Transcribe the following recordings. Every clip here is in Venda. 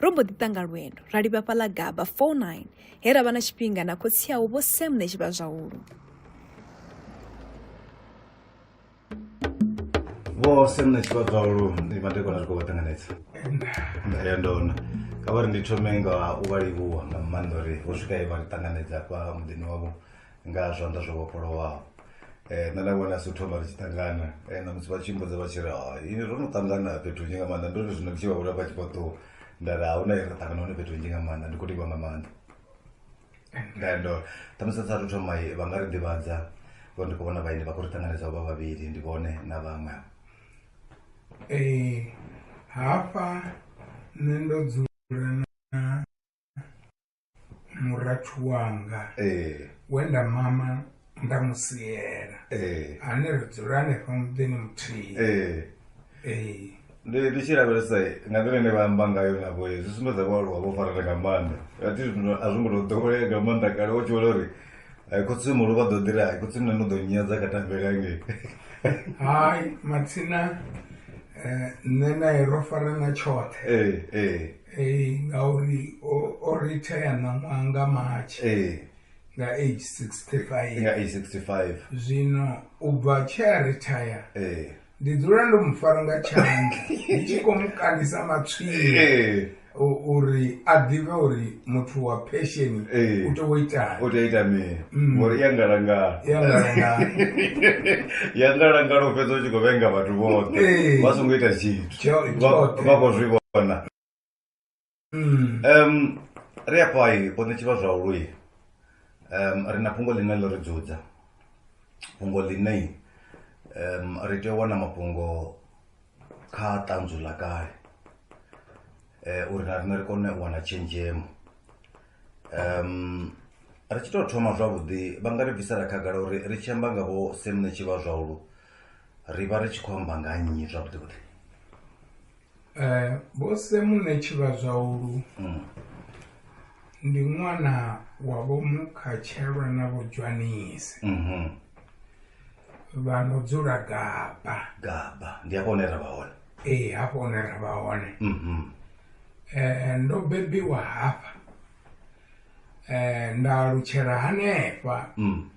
Ro mbo ḓi ṱanga lwendo ra livha fhaḽa Gaba 49 he ra vha na tshifhinga na khotsi awu Vho Sam na Tshivhazwahulu. Vho Sam na Tshivhazwahulu ndi madekwana ri khou vha ṱanganedza. Nda ya ndona. Kha vha ri ndi thome nga u vha livhuwa nga maanḓa uri vho swika he vha ri ṱanganedza hafha muḓini wavho. nga zwanḓa zwo vhofholowaho um nṋe nda vhona si thoma ri tshi ṱangana um na musi vha tshi mbudza vha tshi ri hai ro no ṱangana fhethu nzhi nga maanḓa ndo ri zwino ndi tshi vha vhona vha tshi khou ṱuwa nda ri ahuna ye ra ṱangana hone fhethu nzhi nga maanḓa ndi khou livha nga maanḓa ngando ṱhamusi sa thu thoma vha nga ri ḓivhadza vho ndi khou vhona vhaini vha khou ri ṱanganedza vha vhavhili ndi vhone na vhaṅwe ee hafha nṋe ndo dzula na murathu wanga eh. we nda mama nda mu siela eh. ane ri dzula hanefha muḓini muthihi eh. ndi ndi tshi lavhelesa nga nḓila ine vha amba ngayo navho zwi sumbedza vhaaluwa vho farela nga maanḓa ati zwino a zwi ngo to ḓowelea nga maanḓa kale wo tshi vhona uri khotsi mulo vha ḓo ḓira hai khotsi mna no ḓo nyadza kha tambele angei hai matsina um nṋe nae ro farana tshoṱhe Ee, ngauri o, o retire ṋaṅwaha nga March ee nga age 65 nga age 65 zwino u bva tshe a retire ee ndi dzula ndo mu fara nga tshanḓa ndi tshi khou mu kandisa matswiri ee u- uri a ḓivhe uri muthu wa pension Ee. u tea u itani u tea u ita mini Mm. ngori ya ngalangala ya ngalangala ya ngalangala u fhedza u tshi khou vhenga vhathu vhoṱhe Ee. vha songo ita tshithu Tjoj, Vamos, tjoj. vamos Ivona. Mm. Um, ri afho ai ho ṋetshivha zwa ului um, ri na fhungo ḽine ḽo ri dzudza fhungo ḽine um, ri tea u wana mafhungo kha ṱanzu ḽa kale um uri na riṋe ri kone u wana tshenzhemo um ri tshi tou thoma zwavhuḓi vha nga ri bvisela khagala uri ri tshi amba nga vho semne tshi vha zwahulu ri vha ri tshi khou amba nga nnyi zwavhuḓi vhuḓi um vho semune tshi vha zwahulu mm. ndi ṅwana wa vho mukhatshelwa na vho dzwanisi mm -hmm. vha no dzula gaba gaba ndi hafho hune ra vha hone ee hafho hune ra vha hone mhm. eh, ndo bebiwa hafha eh, nda alutshela hanefha mm.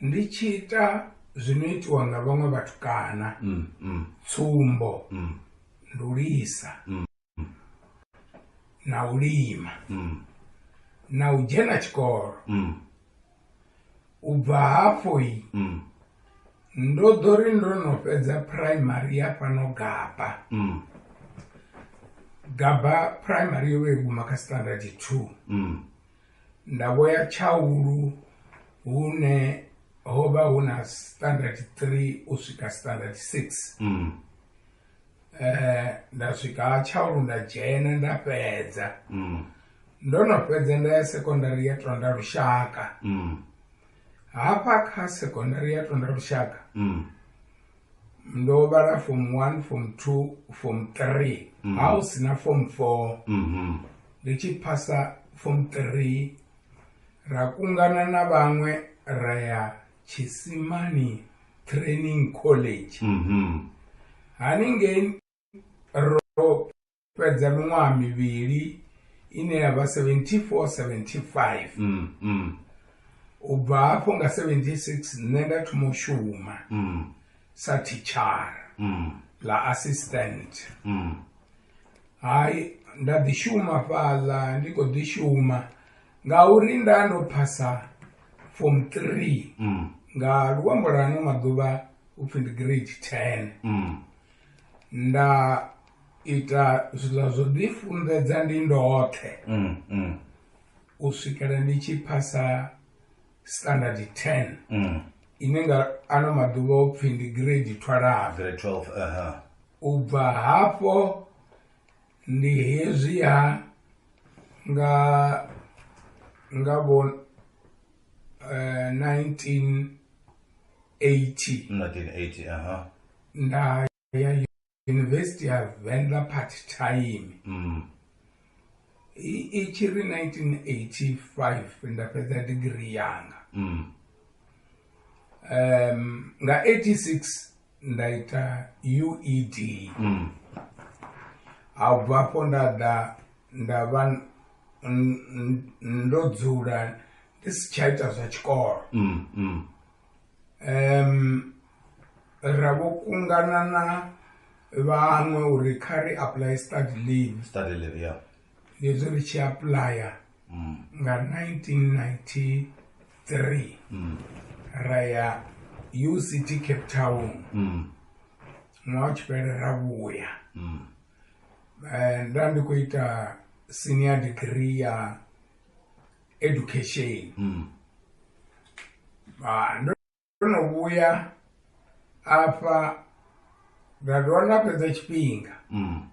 ndi tshi ita zwino itiwa nga vhaṅwe vhatukana mm, tsumbo ndulisa na u lima mm. na u dzhena tshikolo mm. u bva hafho i mm. ndo ḓo ri ndo no fhedza primary ya fhano gaba mm. gaba primary yo vha i guma kha standard two mm. nda vho ya tshaulu hune ho vha hu na standard three u swika standard six mm. eh, nda swika tshaulu nda dzhena nda fhedza mm. ndo no fhedza nda ya sekondari ya tonda lushaka mm. hafha kha sekondari ya tonda lushaka mm. ndo vhala fom one fom two fom three mm. ha u sina fom four mm -hmm. ndi tshi phasa fom three ra kungana na vhaṅwe ra ya chisimani training college mm -hmm. haningei ro fhedza miṅwaha mivhili ine ya vha 74 75 mm, mm. u bva hafho nga 76 nṋe nda thoma u shuma mm. sa tichara mm. la assistant mm. hai nda ḓi shuma fhaḽa ndi khou ḓi shuma ngauri nda ndo phasa form 3 mm. nga luambo lwa ano maḓuvha upfhi ndi grade 10 mm. nda ita zwiḽa zwo ḓi funḓedza ndi ndoṱhe mm, mm. u swikela ndi tshi phasa standard 10 mm. ine nga ano maḓuvha o pfhi ndi grade 12 uh -huh. u bva hafho ndi hezwi ha nga nga vho uh, 1980 1980 aha nda ya university ya venḓa part time mm. i tshi ri 1985 nda fhedza digiri yanga mm. um, nga 86 nda ita ued mm. a bva afho nda ḓa nda vha ndo dzula ndi si tsha ita zwa tshikolo mm, mm. um ra vho kungana na vhaṅwe uri kha ri apply study leave study leave yeah hezwi ri tshi apuḽaya mm. nga 1993 mm. ra ya uct cape town mm. ṅwaha u tshi fhele ra vhuya um nda ndi khou ita senior degree ya education mm. Ndo no vhuya afha ra dovha nda fhedza tshifhinga mm.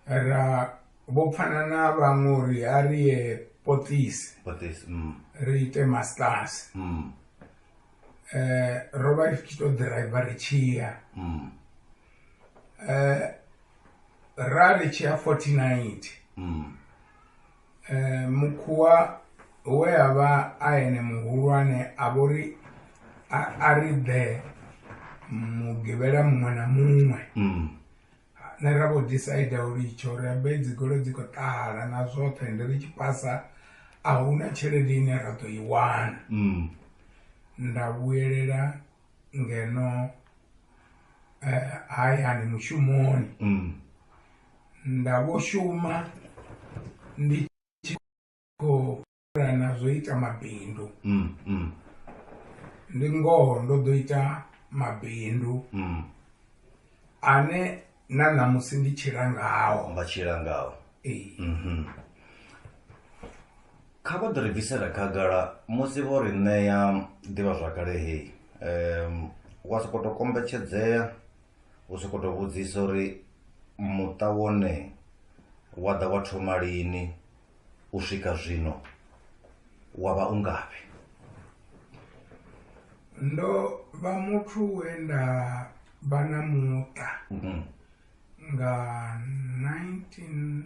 ra vho pfana na vhaṅwe uri a ri ye potisi mm. ri ite masters mm. eh, ro vha ri tshi to driver ri tshiya mm. eh, ra ri tshiya 49 mm. Mukhuwa we a vha a ene muhulwane a vho ri a ri ḓe mugivhela muṅwe na muṅwe mm. ne ra vho decide u litsho ri ambe dzi golo dzi khou ṱahala na zwoṱhe ndi ri tshi pasa a huna tshelede ine ra ḓo i wana mm. nda vhuyelela ngeno eh, hayani mushumoni mm. nda vho shuma ndi tshi khou na zwo ita mabindu mm, mm. ndi ngoho ndo ḓo ita mabindu mm. ane na ṋamusi ndi tshila ngaho vha tshila ngaho mhm. kha vha ḓi ri bvisela khagala musi vho ri ṋea ḓivha zwakale hei um wa sokou tou kombetshedzea u sokou tou vhudzisa uri muṱa wone wa ḓa wa thoma lini u swika zwino wa vha u ngafhi ndo vha muthu we nda vha na muṱa mhm. nga 1977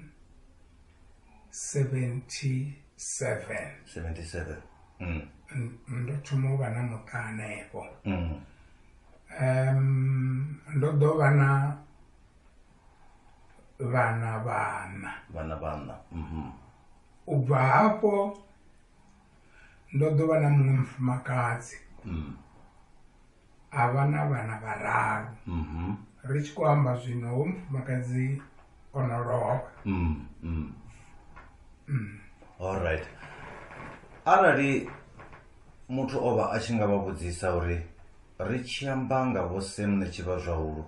77 mm. ndo thoma u vha na muṱa hanefho mm. um ndo ḓo vha na vhana vhana vhana vhana mhm. u bva hafho ndo ḓo vha na muṅwe mufumakadzi mm. a vha na vhana vhararu mhm. ri tshi khou amba zwino ho mufumakadzi o no lovha mm, allright arali muthu o vha a tshi nga vha vhudzisa uri ri tshi amba nga vho semne tshi vha zwahulu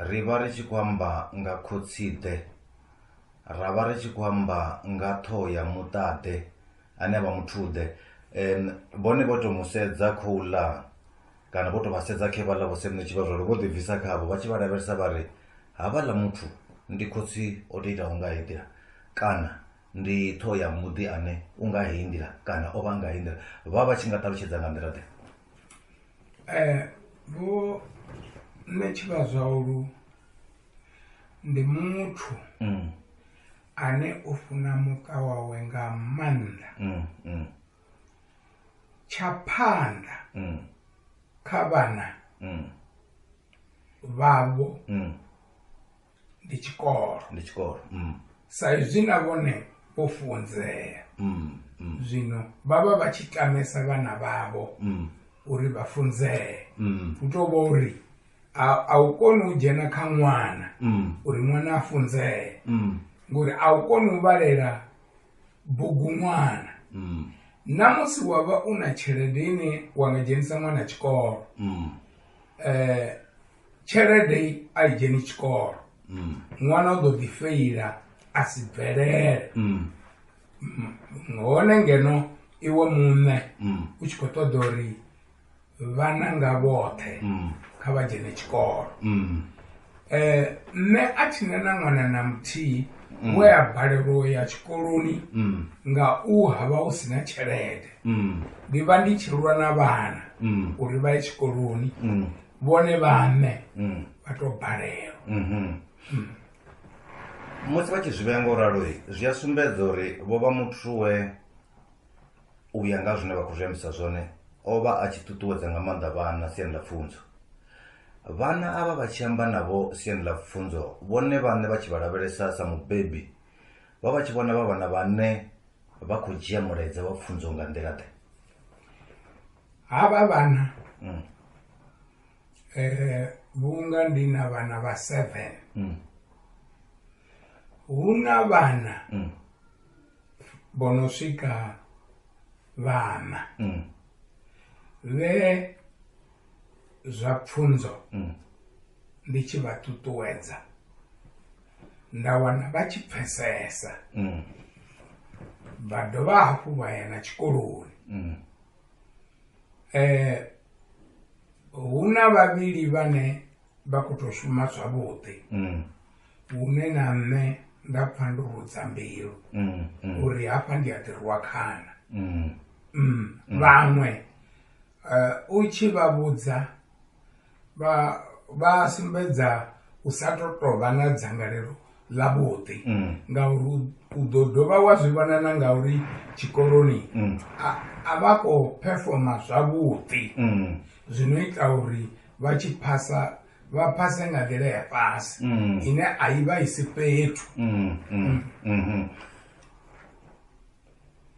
Ri vha ri tshi khou amba nga khotsi-ḓe, ra vha ri tshi khou amba nga ṱhoho ya muṱaḓe ane a vha muthuḓe. Um vhone vho tou mu sedza khouḽa kana vho tou vha sedza khe vhaḽa vho semuṋe tshivhazwalo vho ḓibvisa khavho vha tshi vha lavhelesa vha ri havhaḽa muthu ndi khotsi o tou itaho nga heyi nḓila kana ndi ṱhoho ya muḓi ane u nga heyi nḓila kana o vha nga heyi nḓila vha vha tshi nga ṱalutshedza nga nḓila ḓe eh, vho nṋe tshivhazwaulu ndi muthu mm. ane o funa muṱa wawe nga maanḓa mm, mm. tsha phanḓa kha vhana vhavho ndi tshikolo ndi tshikolo mm. sa izwi na vhone vho funzea mm, mm. zwino vha vha vha tshi tamesa vhana vhavho mm. uri vha funzee mm. u tou vha uri a u koni u dzhena kha ṅwana mm. uri ṅwana a funzee mm. ngori a u koni u vhalela bugu ṅwana mm. na musi wa vha u na tshelede ine wa nga dzhenisa ṅwana tshikolo mm. eh, tshelede a i dzheni tshikolo mm. ṅwana u ḓo ḓi feila a si bvelele mm. mm, hone ngeno iwe muṋe mm. u tshi khou ṱoḓa uri vhana nga vhoṱhe mm. kha vha dzhene tshikolo mm. eh, nṋe a tshi ne na ṅwana na muthihi mm. we a balelwa ya tshikoloni mm. nga u ha vha hu si na tshelede mm. ndi vha ndi tshi lwa na vhana mm. uri vha ye tshikoloni mm. vhone vhaṋe mm. vha tou balelwa mm-hmm. mm. musi vha tshi zwi vhea nga u raloi zwi a sumbedza uri vho vha muthu we u ya nga zwine vha khou zwi ambisa zwone o vha a tshi ṱuṱuwedza nga maanḓa vhana siani ḽa pfunzo vhana a vha vha tshi amba navho siani ḽa pfunzo vhone vhaṋe vha tshi vha lavhelesa sa mubebi vha vha tshi vhona vha vhana vhane vha khou dzhia mulaedza wa pfunzo nga nḓila ḓe havha vhana mm. eh vhunga ndi na vhana vha 7 mm. hu na vhana mm. bono swika vhana mm. vhe zwa pfunzo mm. ndi tshi vha ṱuṱuwedza nda wana vha tshi pfesesa mm. vha dovha hafhu vha ya na tshikoloni mm. eh hu na vhavhili vhane vha khou tou shuma zwavhuḓi mm. hune na nṋe nda pfha ndo rudza mbilu mm, mm. uri hafha ndi a ḓirwa khana vhaṅwe eh, u tshi vha vhudza vha vha sumbedza u sa to tovha na dzangalelo ḽa vhuḓi mm. ngauri u ḓo dovha wa zwi vhona na ngauri tshikoloni mm. a vha khou performa zwavhuḓi mm. zwino ita uri vha tshi phasa vha phase nga nḓila ya fhasi ine a i vha i si fhethu mm-hmm.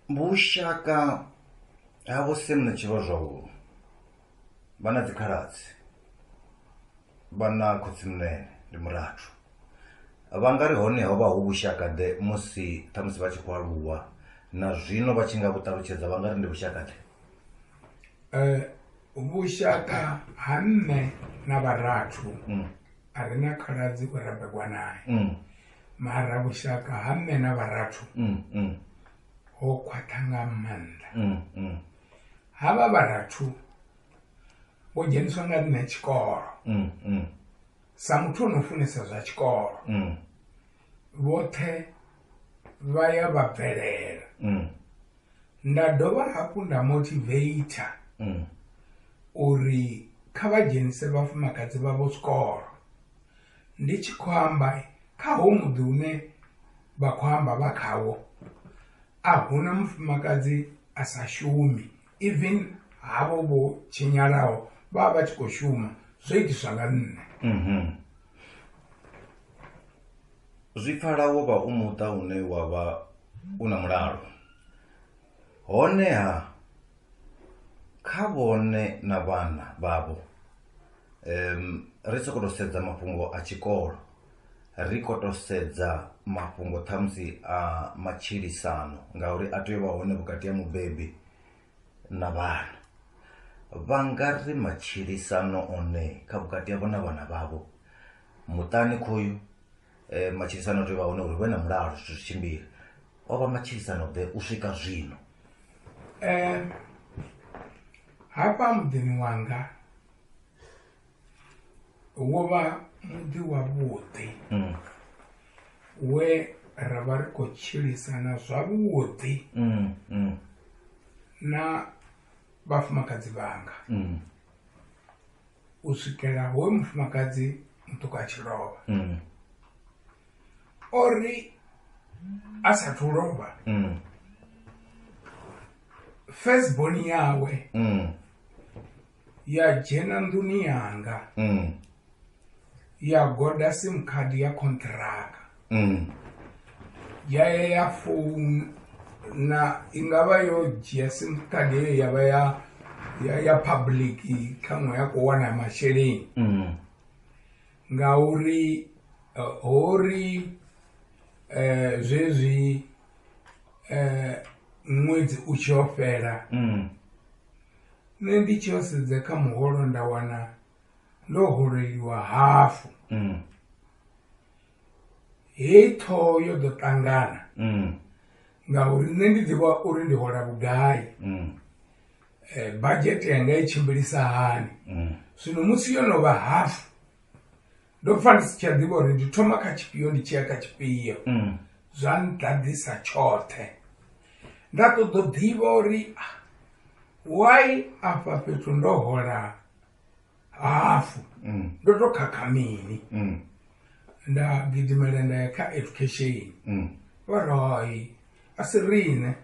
vhushaka ha vho semna tshi vha zwavhuḓi vha na dzikhaladzi vha na khotsimunene ndi murathu vha nga ri hone ho vha hu vhushakade musi ṱhamusi vha tshi khou aluwa na zwino vha tshi nga vhu ṱalutshedza vha nga ri ndi vhushakade eh, vhushaka ha nṋe na vharathu mm. a ri na khaladzi we ra begwa naye mm. mara vhushaka ha nṋe na vharathu mm, ho khwaṱha nga maanḓa havha vharathu vho dzheniswa nga nṋe tshikolo mm, mm. sa muthu o no funesa zwa tshikolo mm. vhoṱhe vha ya vha bvelela nda dovha hafhu nda motivator uri kha vha dzhenise vhafumakadzi vha vho tshikolo Ndi tshi khou amba, kha hoyu muḓi une vha khou amba vha khawo a hu na mufumakadzi a sa shumi, even havho vho tshinyalaho vha vha vha tshi khou shuma, zwo itiswa nga nṋe. Zwi pfala wo vha u muṱa une wa vha u na mulalo, honeha. kha vhone na vhana vhavho um ri soko to sedza mafhungo a tshikolo ri kho to sedza mafhungo ṱhamusi a matshilisano ngauri a tea u vha hone vhukati ha mubebi na vhana vha nga ri matshilisano one kha vhukati havho na vhana vhavho muṱani khoyu eh, matshilisano o tea u vha hone uri vhe na mulalo zwithu zwi tshimbile o vha matshilisano ḓe u swika zwino eh, hafha muḓini wanga wo vha muḓi wavhuḓi mm. we ra vha ri khou tshilisana zwavhuḓi mm, mm. na vhafumakadzi vhanga mm. u swikela hoyo mufumakadzi muṱuku a tshi lovha mm. o ri a sathu lovha mm. first born yawe mm. ya dzhena nḓuni yanga ya goda sim card ya contract mm. ya ya ya founa i nga vha yo dzhia sim card heyo ya vha ya ya ya public khaṅwe ya khou wana masheleni mm. ngauri eh, ho ri um zwezwi um ṅwedzi u tshi yo fhela mm. nṋe ndi tshi yo sedza kha muholo nda wana ndo holeliwa hafu mm. hei ṱhoho yo ḓo ṱangana mm. ngauri nṋe ndi ḓivha uri ndi hola vhugai mm. eh, budget yanga i tshimbilisa hani mm. zwino musi yo no vha hafu ndo pfa ndi si tsha ḓivha uri ndi thoma kha tshifhio ndi tshiya kha tshifhio mm. zwa nḓaḓisa tshoṱhe nda ṱoḓo ḓivha uri ah, why afha fhethu ndo hola hafu mm. ndo to khakha mini mm. nda gidimela nda ya kha education mm. vha ri hai a si riṋe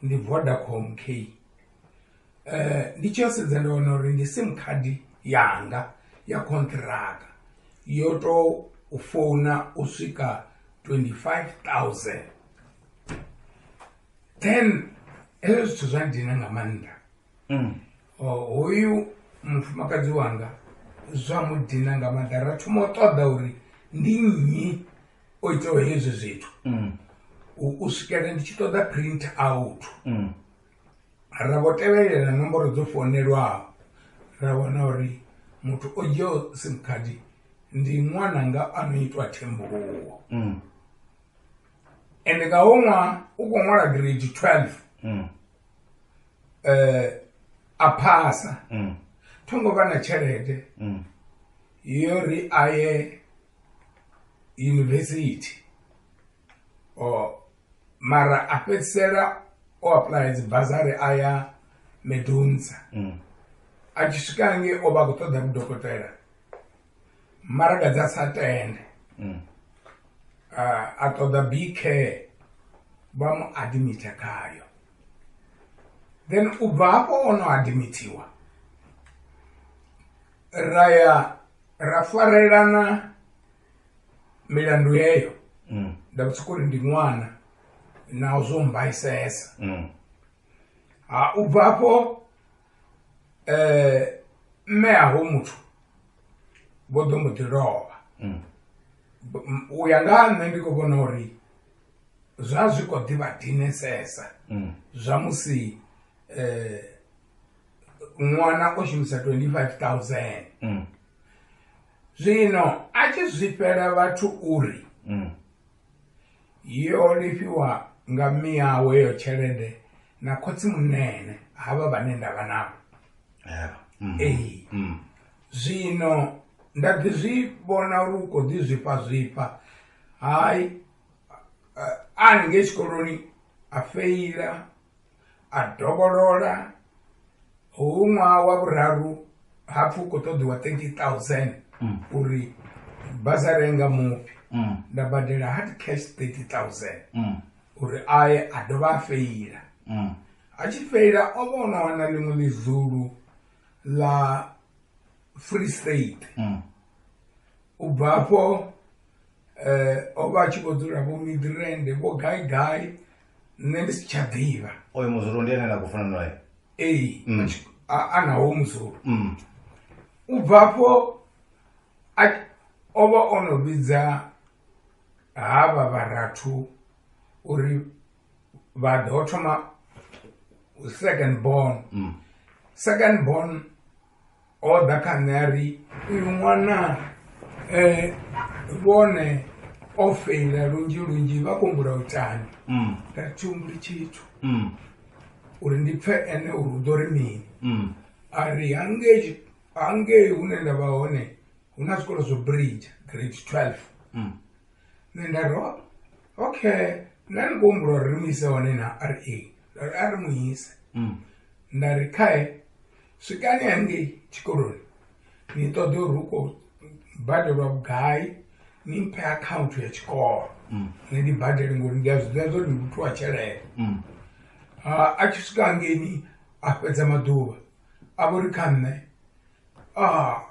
ndi vodacom k eh, ndi tshi yo sedza nda wana uri ndi sim card yanga ya contracta yo to u founa u swika 25000 then hezwo zwithu zwa ndina nga maanḓa mm. hoyu mufumakadzi wanga zwa mudina nga maḓa ra thoma u ṱoḓa uri ndi nnyi o itaho hezwi zwithu mm. u swikela ndi tshi ṱoḓa print out mm. ra vho tevhelela nomboro dzo fonelwaho ra vhona uri muthu o dzhiaho sim card ndi ṅwana nga ano itwa thembuluwo mm. ende nga ho ṅwaha u khou ṅwala grade 12 eh, a phasa mm. tho ngo vha na tshelede mm. yo ri a ye yunivesithi o mara a fhedzisela o aplaya dzi bazari a ya medunza mm. a tshi swika nge o vha a khou ṱoḓa vhudokotela maraga dza sa tende mm. a ṱoḓa bk vha mu admitha khayo then u bva hafho o no admithiwa ra ya ra farelana milandu yeyo mm. nda vhutsiko uri ndi ṅwana naho zwo mbaisesa mm. ha u bva afho mme a ho muthu vho ḓo mbo ḓi lovha u ya nga ha nṋe ndi khou vhona uri zwa zwi kho ḓivha dinesesa zwa musi ṅwana o shumisa 25000 zwino a tshi zwifhela vhathu uri Yo lifhiwa nga mme awe heyo tshelede na khotsi munene havha vhane ndavha navho mm. ee mm. zwino nda ḓi zwi vhona uri u khou ḓi zwifha zwifha hayi a ni ngei tshikoloni a feila a dovholola hu ṅwaha wa vhuraru hapfi u khou ṱoḓiwa 30000 mm. uri basa renga mufhi mm. nda badela hard cash 30000 mm. uri aye a dovha a feila a tshi feila o vha ona wana ḽiṅwe ḽizulu ḽa free state u bva afho um o vha a tshi vho dzula vho midrende vho gai gai nṋe ndi si tsha ḓivha oyo muzulu ndi ene na khou funa naye ei Mm. atshi- a- a nawo muzulu Mm. u bva afho a- o vha o no vhidza havha vharathu uri vha ḓo thoma second born Mm. second born o ḓa kha nṋe a ri uyu ṅwana vhone o feila lunzhi lunzhi vha kumbula u tani mm. nda thi humbuli tshithu mm. uri ndi pfe ene uri u ḓo ri mini mm. a ri hangei hangei hune nda vha hone hu na zwikolo zwo bridge grade 12 nṋe nda ro okay nṋe ndi kuhumbula uri ri mu ise hone na r a ra ri mu ise nda ri khae swikani hangei tshikoloni ni ṱoḓe uri hu khou badelwa vhugai ni mphe akhaunthu ya tshikolo mm. ni ndi badele ngori ndi a zwi ḓivha zwori ndi muthu wa tshelede mm. a tshi swika hangeini a fhedza maḓuvha a vho ri kha nṋe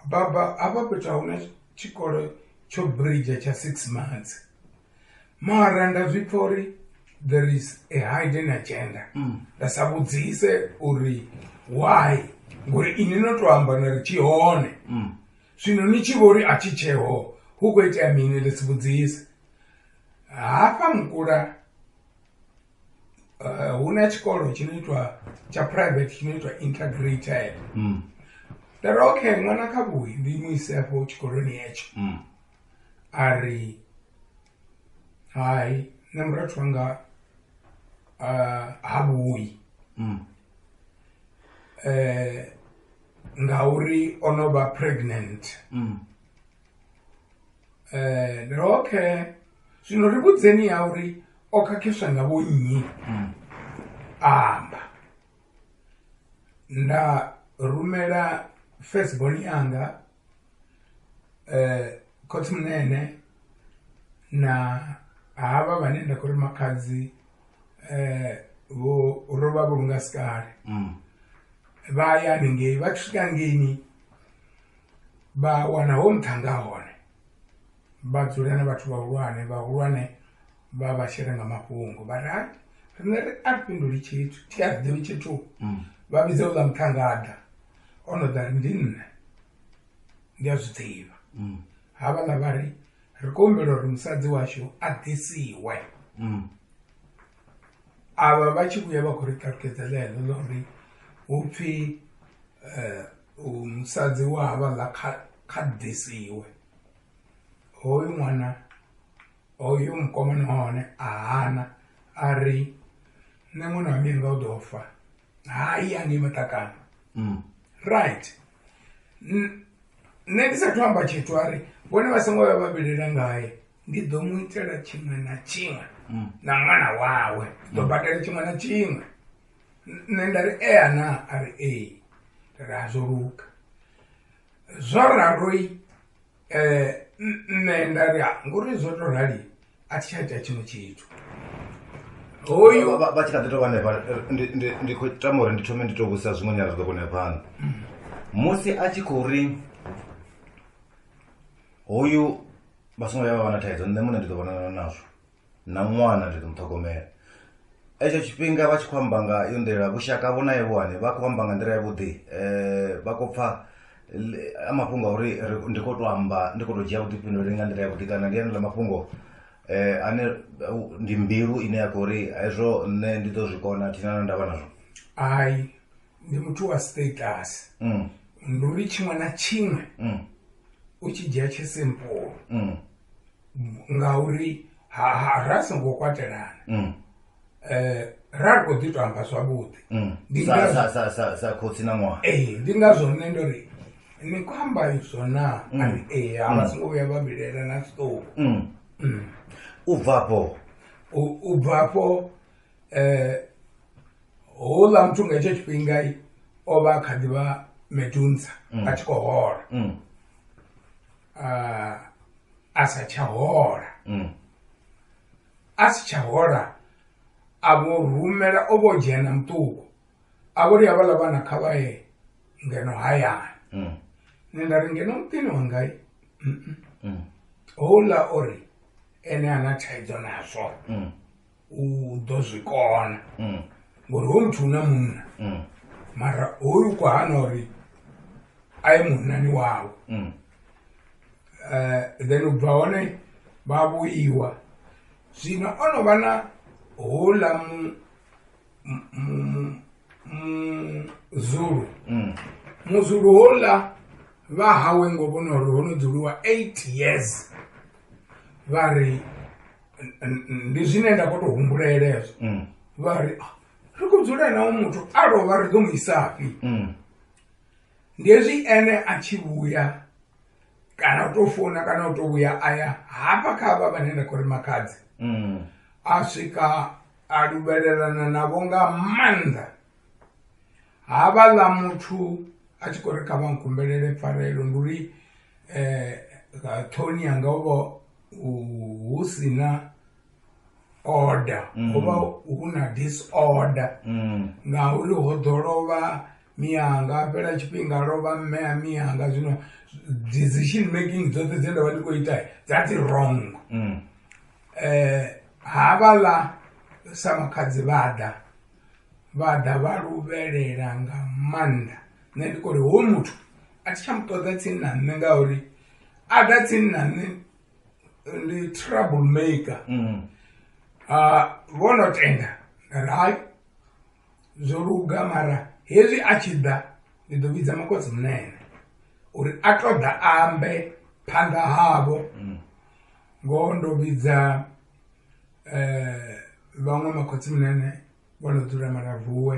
baba hafha fhethu a huna tshikolo tsho bridge tsha six months mara nda zwi pfha uri there is a hidden agenda mm. nda sa vhudzise uri why ngori ini no to amba na ri tshi hone mm. zwino ni tshi vho ri a tshi tsheho hu khou itea mini ri si vhudzise hafha mukula eh, hu na tshikolo tshi no itwa tsha private tshi no itwa integrated mm. nda ri okay ṅwana kha vhuyi ndi mu ise afho tshikoloni hetsho a ri hai nṋe murathu wanga ah, ha vhuyi Mm. eh ngauri o no vha pregnant Mm. eh ndi ri, okay zwino ri vhudzeni ya uri o khakhiswa nga vho nnyi Mm. a amba nda rumela firstborn yanga eh, khotsi munene na havha vhane nda khou ri makhadzi eh, vho ro vha vhulunga sikale mm. vha ya haningei vha tshi swika ngeini vha wana ho nṱhanga hone vha dzula na vhathu vhahulwane vhahulwane vha vha shela nga mafhungo vha ri riṋe ri a fhinduli tshithu thi a ḓivi tshithu mm. vha vhidza u ḽa muṱhangada o no ḓa ri ndi nṋe ndi a zwi ḓivha mm. havhaḽa vha ri ri khou humbela uri musadzi washu a ḓisiwe mm. avha vha tshi vhuya vha khou ri ṱalutshedza ḽeḽo ḽa uri hu pfhi eh, musadzi wa havhaḽa kha ḓisiwe hoyu ṅwana hoyu mukomana wa hone a hana a ri nṋe ṅwana wa mianga u ḓo fa hai angei maṱakana mm. right nṋe ndi sathu amba tshithu a ri vhone vha songo vha vhabelela ngaye ndi ḓo mu itela tshiṅwe na tshiṅwe mm. na ṅwana wawe ḓo mm. badela tshiṅwe na tshiṅwe nṋe nda ri ea na a ri ee ra zwo luka zwo raroi um nṋe nda ri a ngori zwo to rali a thi tsha ita tshiṅwe tshithu hoyu Vha- vha vha tshi kha ḓi tou vha hanefha ndi- ndi- ndi khou tama uri ndi thome ndi tou vhudzisa zwiṅwe nyala zwi ḓo kona ya phanḓa musi a tshi khou ri hoyu vha songo ya vha vha na thaidzo nṋe muṋe ndi ḓo vhonana nazwo na ṅwana ndi ḓo muṱhogomela etsho tshifhinga vha tshi khou amba nga yo nḓila vhushaka vho nae vhuhane vha khou amba nga nḓila yavhuḓi um vha khou pfha a mafhungo a uri ndi khou to amba ndi khou to dzhia vhuḓifhinduleli nga nḓila yavhuḓi kana ndi anela mafhungo um ane ndi mbilu ine ya khou ri hezwo nṋe ndi ḓo zwi kona thina na ndavha nazwo hai ndi muthu wa status mm. ndi uri tshiṅwe na tshiṅwe mm. u tshi dzhia tshe simple mm. ngauri ha ha ra songo kwatelana mm. eh ra kho ḓi to amba zwavhuḓi mm. ndi sa sa sa sa sa khotsi na ṅwaha eh ndi nga zwo nne ndo ri ni khou amba izwo na mm. ari eh ha vha mm. songo vhuya vha vhilela na tshiṱovu mm. mm. u bva afho u bva afho eh houḽa muthu nga hetsho tshifhinga o vha kha ḓi vha medunza mm. a tshi khou hola mm. uh, a sa tsha hola mm. a si tsha hola a vho rumela o vho dzhena muṱuku a vho ri havhala vhana kha vha ye ngeno hayani mm. nṋe nda ri ngeno muṱini wangai mm. houḽa o ri ene ana thaidzo nazwo u ḓo zwi kona mm. ngori hoyu muthu una munna mm. mara hoyu kwa hana uri a ye munnani wawe mm. eh, then u bva hone vha vhuiwa zwino o no vha na houḽa muzulu muzulu houḽa vha hawe ngo vhona uri ho no dzuliwa eight years vha ri N- n- ndi zwine nda khou tou humbulela hezwo Mm. vha ri "Ah, ri khou dzula nawo muthu a lovha ri ḓo mu isafhi Mm. ndi hezwi ene a tshi vhuya kana u tou founa kana u tou vhuya a ya hafha kha havha vhane nda khou ri makhadzi Mm. a swika a luvhelelana navho nga maanḓa havhaḽa muthu a tshi khou ri kha vha nkumbelele pfarelo ndi uri um ṱhoni yanga u vha hu si na order mm. ho vha hu na disorder mm. ngauri ho ḓo lovha miyanga a fhela tshifhinga lovha mme a miyanga zwino decision making dzoṱhe dzine nda vha ndi khou ita that's wrong mm. eh, havhaḽa sa makhadzi vhaḓa vhaḓa vha luvhelela nga maanḓa nṋe ndi kori ho muthu a thi tsha mu ṱoḓa tsini na nṋe ngauri adatsinna ni ndi trouble maker mm. uh, vho no tenda rai zwo luga mara hezwi a tshi ḓa ndi ḓo vhidza makodzi munene uri a to ḓa ambe phanḓa havho mm. ngoho ndo vhidza um vhaṅwe makhotsi munene vho no dzula maravuwe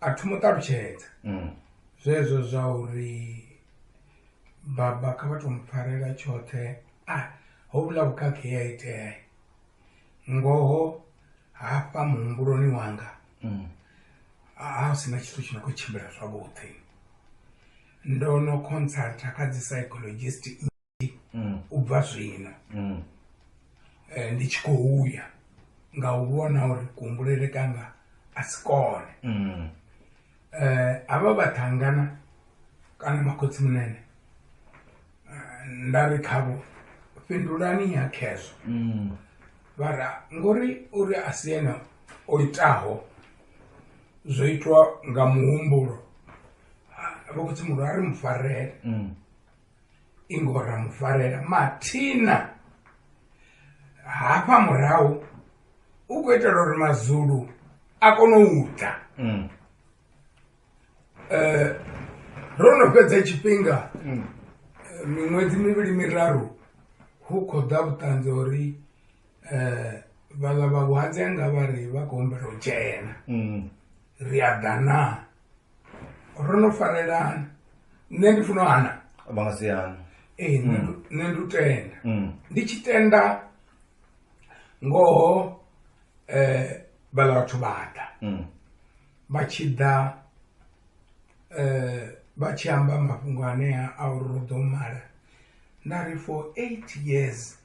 a thi mu ṱalutshedza mm. zwezwo zwa uri baba kha vha to mu pfarela tshoṱhe a ah, ho vhula vhukhakhi ya itea ngoho hafha muhumbuloni wanga mm. a ah, sina tshithu tshi no khou tshimbila zwavhuḓi ndo no consulta kha dzi psychologist mm. u bva zwino mm. eh, ndi tshi khou ya nga u vhona uri kuhumbulele kanga a si kone mm. eh, avha vhathangana kana makhotsi munene eh, nda ri khavho fhindulani ya khezwo vhara ngori uri a si ene o itaho zwo itwa nga muhumbulo vho khotsi muhulu a ri mufarele ingora mufarela mathina hafha murahu u khou itela uri mazulu a kone u ta mm. eh, ro no fhedza tshifhinga mm. eh, miṅwedzi mivhili miraru hu khou ḓa vhuṱanzi uri um eh, vhaḽa vha vhuhadzi anga vha ri vha khou humbela u dzhena mm. ri a ḓa naa ro no farelana nṋe ndi funa hana vha nga si hana ee nṋe ndu- nṋe ndu tenda Mm. ndi tshi tenda ngoho eh vhala vhathu vha ḓa Mm. vha tshi ḓa eh vha tshi amba mafhungo anea a uri ro ḓo mala nda ri for eight years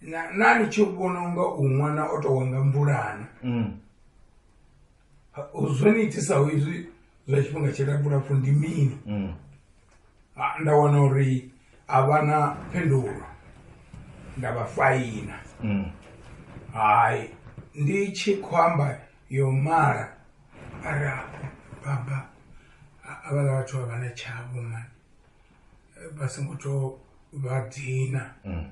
na na ni tshi vhona unga u ṅwana o tou wanga mvulana Mm. zwo ni itisaho izwi zwa tshifhinga tshilapfu lapfu ndi mini mm. ah, nda wana uri a vha na phindulo nda vha faina mm. hai ndi tshi khou amba yo mala ari baba avhala vhathu vha vha na tshavho mani eh, vha songo to vha dina mm.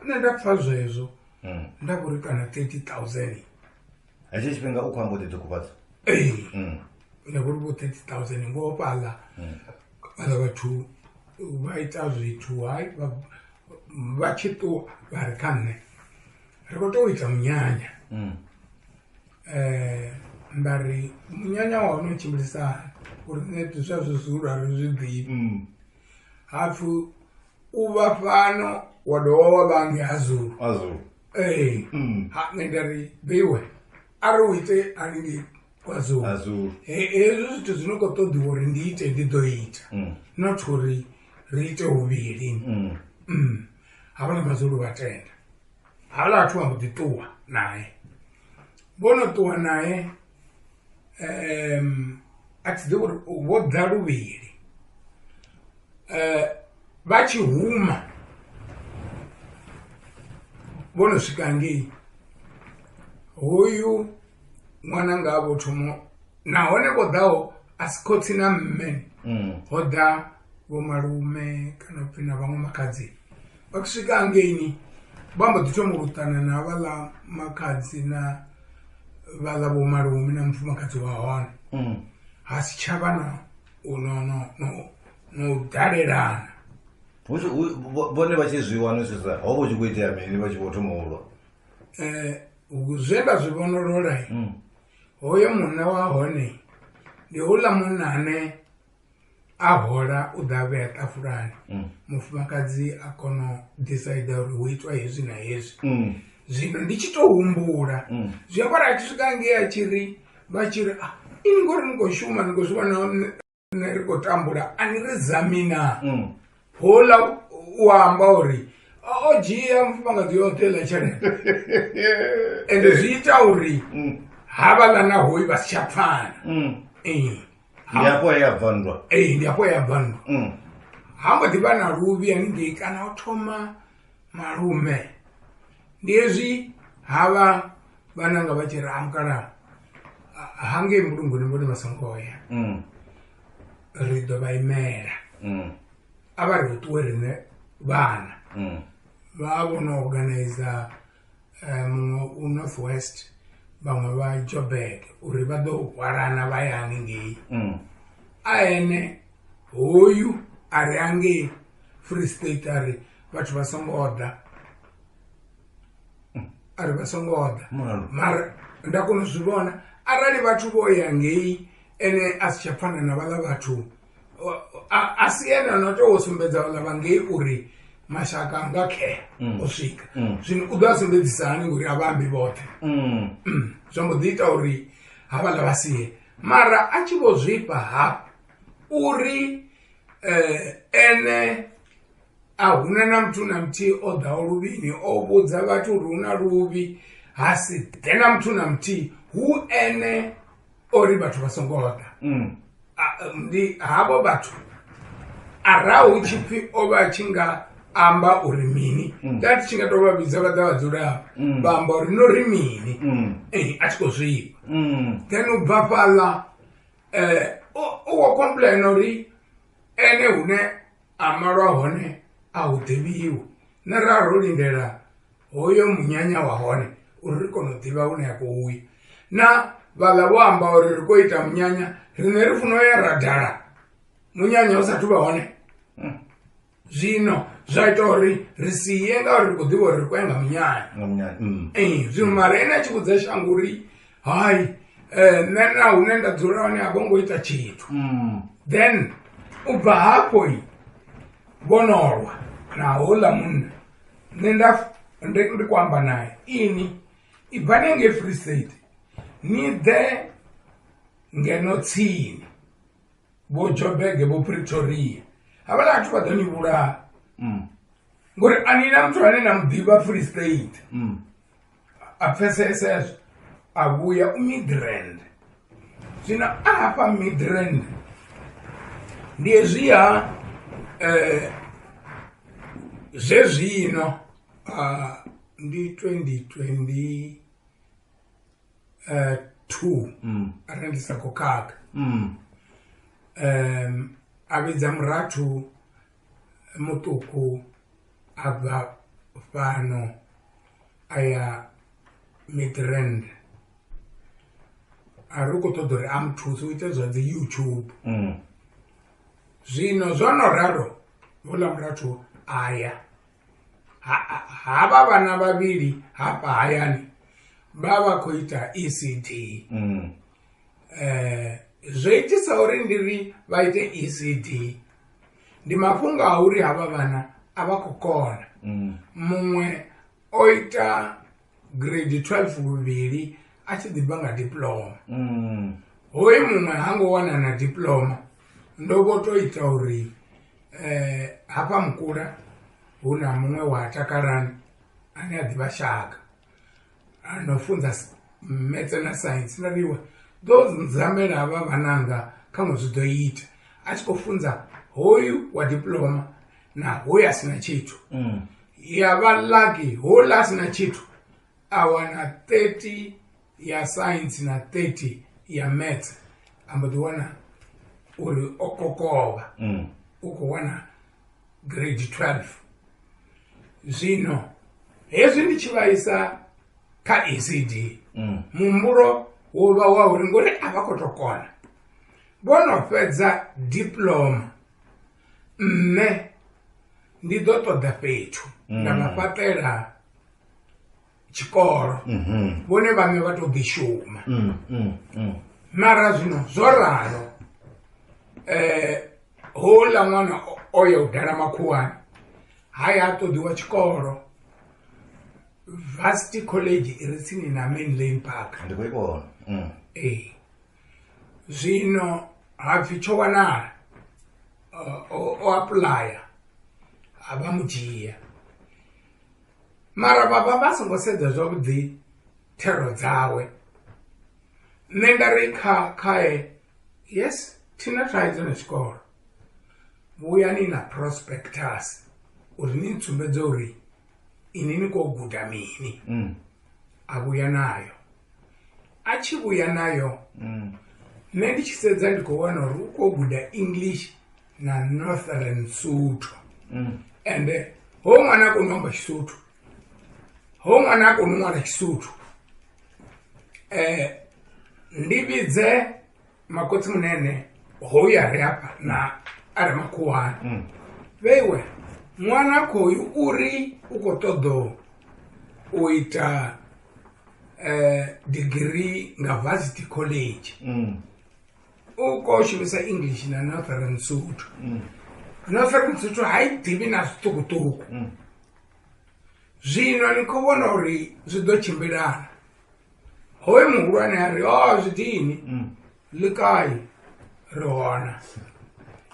nṋe nda pfa zwezwo mm. nda vhori kana 30 000 hetsho tshifhinga u khou amba u ḓi ṱukufhadza mm. ne go ri bo thirty thousand ngoho fhaḽa mm. fhaḽa vhathu vha ita zwithu hai vha tshi ṱuwa vha ri kha nṋe ri khou tou ita munyanya um nda ri munyanya wa hone u tshimbilisa uri nṋe zwa zwi zwiulu a ri zwi ḓivi hapfhi u vha fhano wa dovha wa vhange ha zulu ee Mm. ha nṋe nda ri beiwe arali u ite haningei kwazulu azulu He- hezwi zwithu zwi no khou ṱoḓiwa uri ndi ite ndi ḓo ita Mm. not uri ri ite huvhili Mm. Mm. havhala mazulu vha tenda havhala vhathu vha mbo ḓi ṱuwa naye vho no ṱuwa naye um, a tshi ḓivha uri vho ḓa luvhili um vha tshi huma vho no swika ngei hoyu ṅwana nga vho thomo nahone vho ḓaho a si khotsi na mme ho ḓa vho malume kana upfhi na vhaṅwe makhadzi vha tshi swika hangeini vha mbo ḓi thoma u ṱana na vhaḽa makhadzi na vhaḽa vho malume na mufumakadzi wa hone mm. ha si tsha vha na no u dalelana vhone vha tshi zwi wana zwi sa ho vho tshi khou itea mini vha tshi vho thoma ulwa um eh, zwe nda zwi vhonolola mm. hoyo munna wa hone ndi houḽa munna ane a hola u ḓa vhea ṱafulani mm. mufumakadzi a kono decide uri hu itwa hezwi na hezwi mm. zwino ndi tshi to humbula mm. zwi avhora a tshi swika ngei a tshi ri vha tshi ri ah, ini ngori ni khou shuma ni khou zwi vhona ne ri khou tambula a ni ri zamina hola u amba uri o dzhia mufumakadzi yoṱhe ḽa tshelede ende zwi ita uri havhaḽa na hoyi vha si tsha pfana ndi afho he ya bva nndwa ee ndi afho ya bva nndwa Mm. ha mbo ḓi vha na luvhi haningei kana o thoma malume ndi hezwi ha vha vhananga vha tshi ri amukalaha hangei mulunguni vhone vha songo ya Mm. ri ḓo vha imela Mm. a vha ri ṱuwe riṋe vhana Mm. vha vho no organizer eh, muṅwe u north west vhaṅwe vha jobek uri vha ḓo hwalana vha ya haningei mm. a ene hoyu a ri angei free state a ri vhathu vha songo ḓa mm. a ri vha songo ḓa mara nda kona u zwi vhona arali vhathu vho ya ngei ene a si tsha pfana na vhaḽa vhathu a si ene no tea u sumbedza vhaḽa vha ngei uri mashaka anga khea mm. o swika mm. zwino u ḓo a sumbedzisa hani ngori a vha ambi vhoṱhe mm. zwa mbo ḓi ita uri ha vhaḽa vha sie mara a tshi vho zwifha hafhu uri eh, ene a huna na muthu na muthihi o ḓaho luvhini o vhudza vhathu uri hu na luvhi ha si ḓe na muthu na muthihi hu ene uri vhathu vha songo ḓa mm. ndi havho vhathu arahu tshi pfhi o vha tshi nga amba uri mini mm. that tshi nga to vha vhidza vha ḓa vha dzula mm. vha amba uri no ri mini eh, a tshi khou zwivha then u bva fhaḽa um u wo complaina uri ene hune a malwa hone a hu ḓivhiwi na ra ro lindela hoyo munyanya wa hone uri ri kone u ḓivha hune ya khou uya na vhaḽa vho amba uri ri khou ita munyanya riṋe ri funa u ya ra dala munyanya u sathu vha hone hmm. zwino zwa ita uri ri si ye ngauri ri khou ḓivha uri ri khou ya nga munyanya hmm. ee zwino mara ene a tshi vhudza shango uri hai um eh, nṋe na hune nda dzula hone a vho ngo ita tshithu hmm. then u bva hafhoi vhonolwa na houḽa munna nṋe nda ndi ndi kho amba naye ini ibvani ngei free state ni ḓe ngeno tsini vho jobege vho pretoria havhala vhathu vha ḓo ni vhulaha ngori a ni na muthu ane na muḓivha free state a pfesese ezwo a vhuya u midrand zwino a hafha midrand ndi hezwiha eh, zwezwino uh, ndi 2022 uh, two, mm. arali ndi sa khou khakha mm. um, a vhidza murathu muṱuku a bva fhano a ya midrand a ri khou ṱoḓa uri a muthuse u ite zwa dzi youtube mm. zwino zwo no ralo houḽa murathu a ya havha vhana vhavhili hafha hayani vha vha khou ita ecd mm. Zwo itisa uri ndi ri vha ite E_C_D ndi mafhungo a uri havha vhana a vha khou kona muṅwe o ita grade twelve luvhili a tshi ḓi bva nga diploma hoyu muṅwe ha ngo wana na diploma ndo vho to ita uri hafha mukula hu na muṅwe wa Takalani ane a ḓivha shaka. ndo funza metse na science nda vhiwa ḓo nzamela havha vhananga kha ṅwe zwi ḓo ita a tshi khou funza hoyu wa diploma na hoyu a si na tshithu mm. ya vha laki hola a si na tshithu a wana 30 ya science na 30 ya metse a mbo ḓi wana uri o kokovha mm. u khou wana grade 12 zwino hezwi ndi tshi vhaisa kha ecd mm. muhumbulo wo vha wa uri ngori a vha khou to kona vho no fhedza diploma nṋe ndi ḓo ṱoḓa fhethu nda vha mm. fhaṱela tshikolo mhm. vhone vhaṋe vha to ḓi shuma mm, mm, mm. mara zwino zwo ralo eh houḽa ṅwana o ya u dala makhuwani ha ya a ṱoḓiwa tshikolo varsity college i re tsini na main lane park ndi khou i vhona ee zwino ha pfhi tsho wanala o apuḽaya a vha mu dzhia mara vhavha vha songo sedza zwavhuḓi thero dzawe nṋe nda ri kha khae yes thina thaidzo na tshikolo vhuyani na prospectus uri ni tsumbedze uri ini ni khou guda mini mm. a vhuya nayo a tshi vhuya nayo mm. nṋe ndi tshi sedza ndi khou wana uri u khou guda english na northern suthu mm. ende ho ṅwana a koni u amba tshisuthu ho ṅwana a koni u ṅwana tshisuthu um ndi vhidze makotsi munene hoyu a re afha na a re makhuwani mm. vheiwe ṅwana khoyu uri u khou ṱoḓo u ita eh, degree nga varsity college mm. u khou shumisa english na northern sotho mm. northern sotho ha i ḓivhi na zwiṱukuṱuku zwino ni khou vhona uri zwi ḓo tshimbilana hoyu muhulwane a ri o zwi dini mm. likai ri hona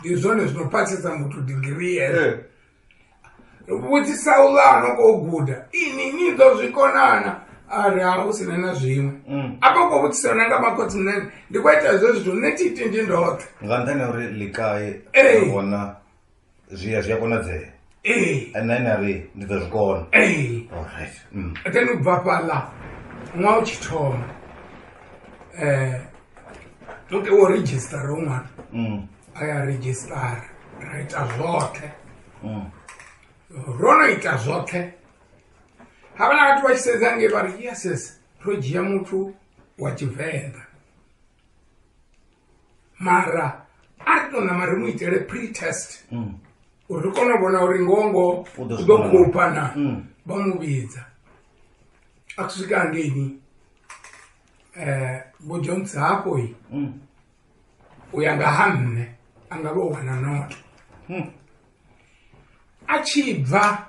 ndi zwone zwino phathisa muthu digiri yezo eh. vhudzisa u ḽa no khou guda ini ni ḓo zwi konana a ri a u sina na zwiṅwe mm. a vha khou vhudzisa na nga makhotsi munene ndi khou ita hezwo zwithu nṋe thi itendi ndoṱhe nga nṱhani ya uri likai hona zwi a zwi a konadzea ee nṋe na ri ndi ḓo zwi kona ee allright mm. then u bva fhaḽa ṅwaha u tshi thoma um muke wo registara u ṅwana mm. a ya registara ra ita zwoṱhe mm. ro no ita zwoṱhe ha vha na vhathu vha tshi sedza nge vha ri yes yes ro dzhia muthu wa tshivenḓa mara a ri to nama ri mu itele pre test mm. uri ri kone u vhona uri ngongo u ḓo khoupa na mm. vha mu vhidza a ku swika hangeini um vho jones hafhoi mm. u ya nga ha nṋe a nga vha u wana noto a tshi bva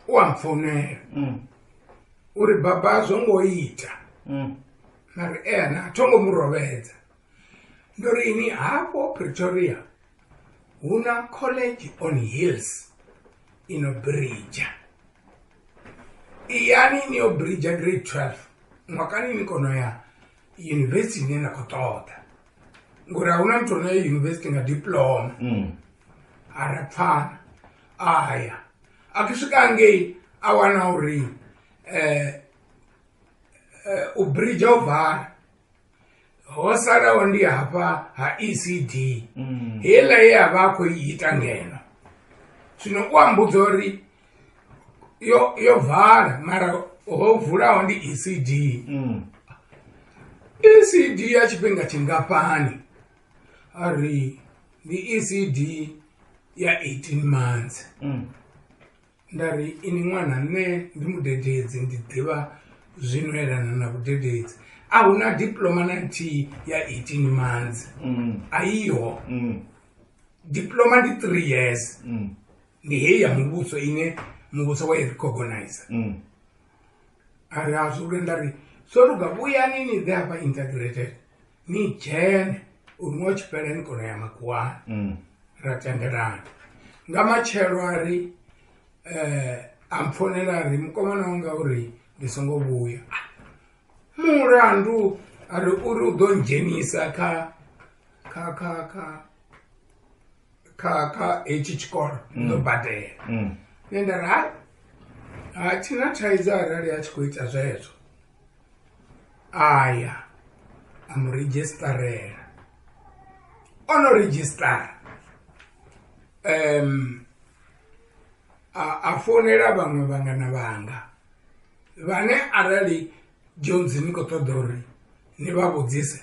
u a mpfonela mm. uri baba a zwo ngo ita mm. mari ena a tho ngo mu rovhedza ndo ri ini hafho pretoria hu na college on hills ino brija iyani ni yo brija grade 12 mwakani ni kono ya university ine na khou ṱoḓa ngori hauna muthu one yunivhesiti nga diploma mm. ara pfana aya akisvika ngei awana uri um eh, eh, ubridja uvhara ho salawo ndi hafha ha ecd mm. heiḽa ye a vha a khou i ita ngeno zwino u ambudza uri yo yo vala mara ho vulaho ndi ecd mm. ecd ya tshifhinga tshingafhani a ri ndi ecd ya 18 months mm. nda ri ini ṅwana nṋe ndi mudededzi ndi ḓivha zwino elana na vhudededzi a hu na diploma na nthihi ya 18 months mm. a iho mm. diploma ndi three years mm. ndi heyi ya muvhuso ine muvhuso wa i recognize mm. a ri a zwi lwe nda ri so luga vhuyani ni ḓe hafha integrated ni dzhene uri ṅwa tshifhela ni kono ya makuwani mm. ra tendelana nga matshelo a ri um eh, a mpfonela a ri mukomana wanga uri ndi songo vhuya mulandu a ri uri u ḓo ndzhenisa kha kha kha kha kha kha hetshi tshikolo mm. ndo badela mm. nṋe nda ri hai ha thina thaidzo arali a tshi khou ita zwezwo aya a mu redzhistarela o no redzhistara um a founela vhaṅwe vhangana vhanga vhane arali jones ni khou ṱoḓa uri ni vha vhudzise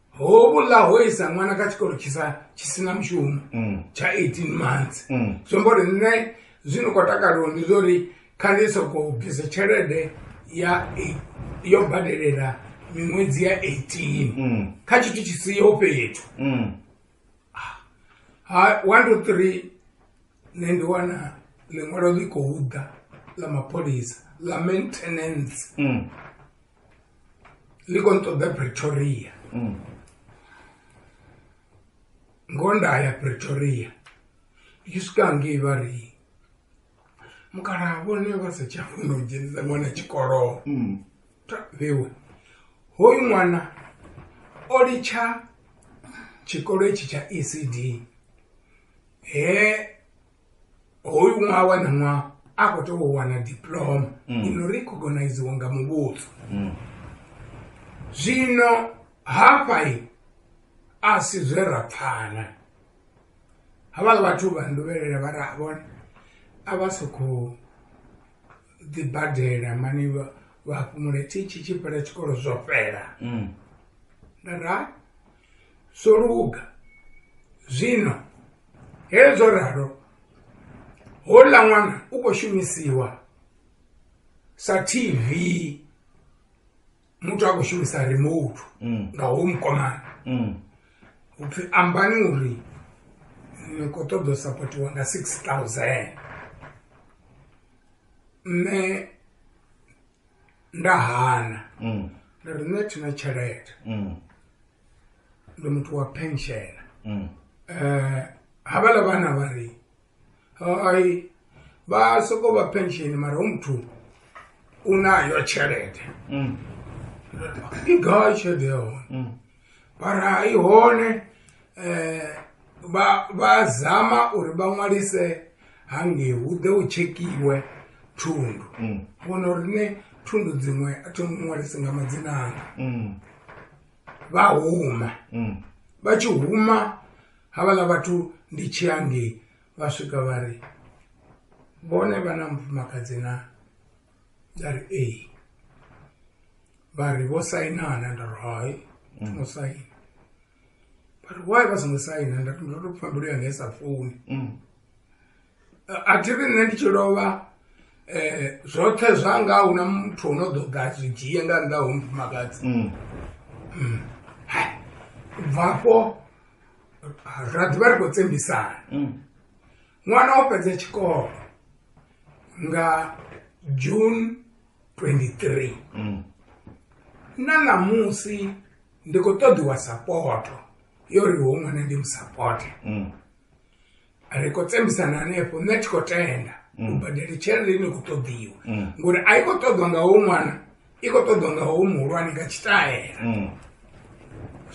hovhuḽa ho isa ṅwana kha tshikolo tshi sa tshi sina mushumo mm. tsha 18 months mm. zwi amba uri nṋe zwino khou takaliwa ndi zwa uri kha ndi sokou bvisa tshelede ya yo badelela miṅwedzi ya 18 mm. kha tshithu tshi siho fhethu ha one to three nṋe ndi wana ḽiṅwalo ḽi khou ḓa ḽa mapholisa ḽa maintenance ndi khou ṱoḓa pretoria mm. ngo nda ya pretoria i swika ngei vha ri mukalaha vhone vha sa tsha funa u dzhenisa ṅwana tshikolo mm. vhewe hoyu ṅwana o litsha tshikolo itshi tsha ecd he hoyu ṅwaha wa na ṅwaha a khou tea u wana diploma mm. ino ri khogoniziwa nga muvhuso mm. zwino hafhai a si zwe ra pfana havhala vhathu vha nduvhelele vha ra vhona a vha sokhou ḓibadela mani vha fhumule thi tshi tshi fhela tshikolo zwo fhela mm. nda ra Zwo luga zwino hezwo ralo houḽa ṅwana u khou shumisiwa sa tv muthu a khou shumisa remote mm. nga ho mukomana mm. upfi ambani uri ni khou ṱoḓa u sapotiwa nga six thousand nṋe nda hana mm. nda ri nṋe thina tshelede mm. ndi muthu wa pension um mm. eh, havhala vhana vha ri ai vha soko vha pension mara u muthu u nayo tshelede i gai tshelede ya hone mara i hone um vha vha zama uri vha ṅwalise hangei hu ḓe u tshekhiwe thundu mm. vhona uri ne thundu dziṅwe a thi ṅwalisi nga madzina anga mm. vha huma mm. vha tshi huma havhaḽa vhathu ndi tshi hangei vha swika vha ri vhone vha na mufumakadzi na nda ri ee vha ri vho sainana nda ri hai thongo saina vha ri why vha songo saina nda ndo to pfha mbilu yanga i sa funi mm. a thi ri nṋe ndi tshi lovha eh zwoṱhe zwanga hu na muthu ono ḓo ḓa zwi dzhie nga nnḓa ho mufumakadzi mm. mm. bvafho ra ḓivha ri khou tsembisana mm. Ṅwana o fhedza tshikolo nga June 23 mm. na ṋamusi ndi khou ṱoḓiwa sapoto yo ri ho ṅwana ndi musapote mm. ri khou tsemisana hanefho nṋe tshi khou tenda u mm. badela tshelede ine khou ṱoḓiwa mm. ngori a i khou ṱoḓwa nga ho ṅwana i khou ṱoḓwa nga ho muhulwane nga tshitaela mm.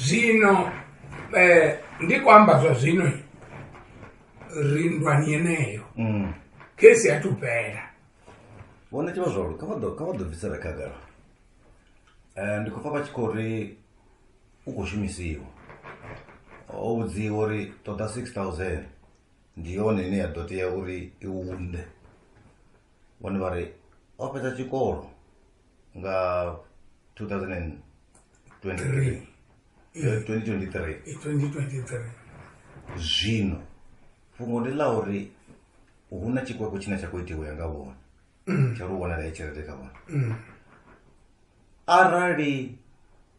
zwino um ndi khou amba zwa zwino ri ndwani yeneyo mm. kesi ya tupela vona tiva zvauri ka va dobvisera kagara um eh, ndi khou pfa va tshi khou ri u khou shumisiwa o vhudziwa uri ṱoḓa six thousand ndi yone ine ya ḓo tea uri i unde vhone vha ri o fhedza tshikolo nga 2023 eh, 2023 eh, 2023 zwino fhungo ndi ḽa uri hu na tshikweko tshine tsha khou itiwa ya nga vhona mm. tsha ri u vhonala ya tshelede kha vhona mm. arali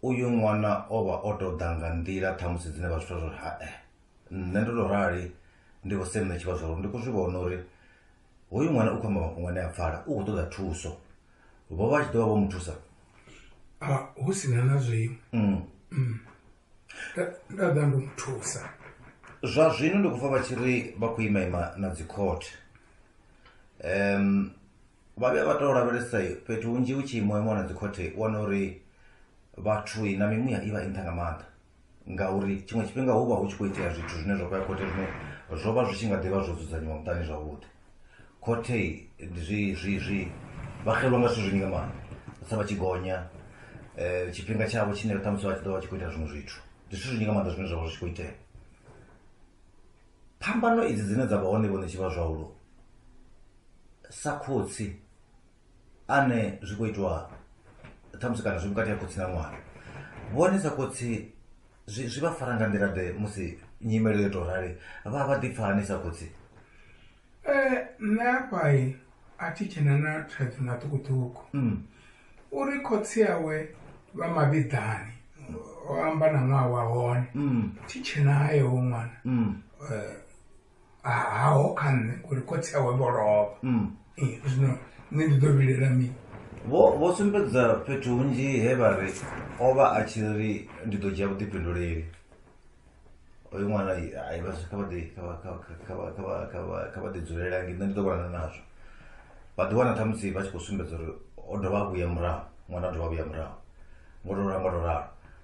uyu ṅwana o vha o tou ḓa nga nḓila ṱhamusi dzine vha zwi twa zwa uri hae eh, nṋe ndo tou rali ndi vho senne tshivha zwa uri ndi khou zwi vhona uri hoyu ṅwana u khou amba mafhungo ane a pfala u khou ṱoḓa thuso vho vha tshi ḓo vha vho mu thusa a hu si na na zwiṅwe Mm. Mm. Nda- nda ḓa ndo mu thusa zwa zwino ndi khou pfa vha tshi ri vha khou ima ima na dzikhothe um vha vhuya vha tou lavhelesa fhethu hunzhi hu tshi imiwa imiwa na dzikhothe u wana uri vhathu na mimuya i vha i nṱha nga maanḓa ngauri tshiṅwe tshifhinga hu vha hu tshi khou itea zwithu zwine zwa khou ya khothe zwine zwo vha zwi tshi nga ḓivha zwo dzudzanyiwa muṱani zwavhuḓi khothe zwi zwi zwi vha xelwa nga zwithu zwinzhi nga maanḓa sa vha tshi gonya um tshifhinga tshavho tshine ṱhamusi vha tshi ḓo vha tshi khou ita zwiṅwe zwithu ndi zwithu zwinzhi nga maanḓa zwine zwa vha zwi tshi khou itea phambano idzi dzine dza vha hone vhone tshi vha zwahulu sa khotsi ane zwi khou itiwa ṱhamusi kana zwi vhukati ha khotsi na ṅwana vhone sa khotsi zwi zwi vha fara nga nḓila ḓe musi nyimelo yo tou rali vha vha ḓipfa hani sa khotsi Eh, nṋe afhayi a thi tshena na thaidzo na ṱhukhuṱhukhu Mm. uri khotsi awe vha mavhiḓani o amba na ṅwaha wa hone Mm. thi tshenayo wo ṅwana Mm. Eh, haho kha nṋe uri khotsi awe vho lovha mm. eh, zwino nṋe ndi ḓo vhilela mini vho sumbedza fhethu hunzhi he vha ri o vha a tshi ri ndi ḓo dzhia vhuḓifhinduleli oyo ṅwana ai vha kha vha ḓi kha vha ḓi dzulela ngi nṋe ndi ḓo vhonana nazwo vha ḓi wana ṱhamusi vha tshi khou sumbedza uri o dovha a vhuya murahu ṅwana o dovha a vhuya murahu ngo to ralo ngo to ralo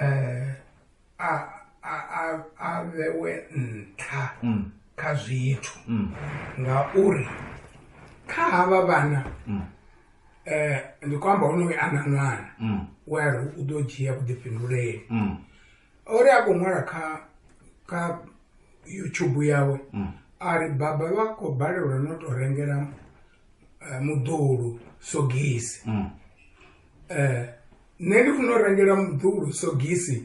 eh, a a a a vhewe nṱha mm. kha zwithu mm. ngauri kha havha vhana mm. eh ndi khou amba honoyo ana ṅwana mm. we a ri u ḓo dzhia vhuḓifhinduleli mm. o ri a khou ṅwala kha kha youtube yawe mm. a ri baba vha khou balelwa no tou rengela eh, muḓulu sogisi mm. eh, nṋe ndi funa u rengela muḓulu sogisi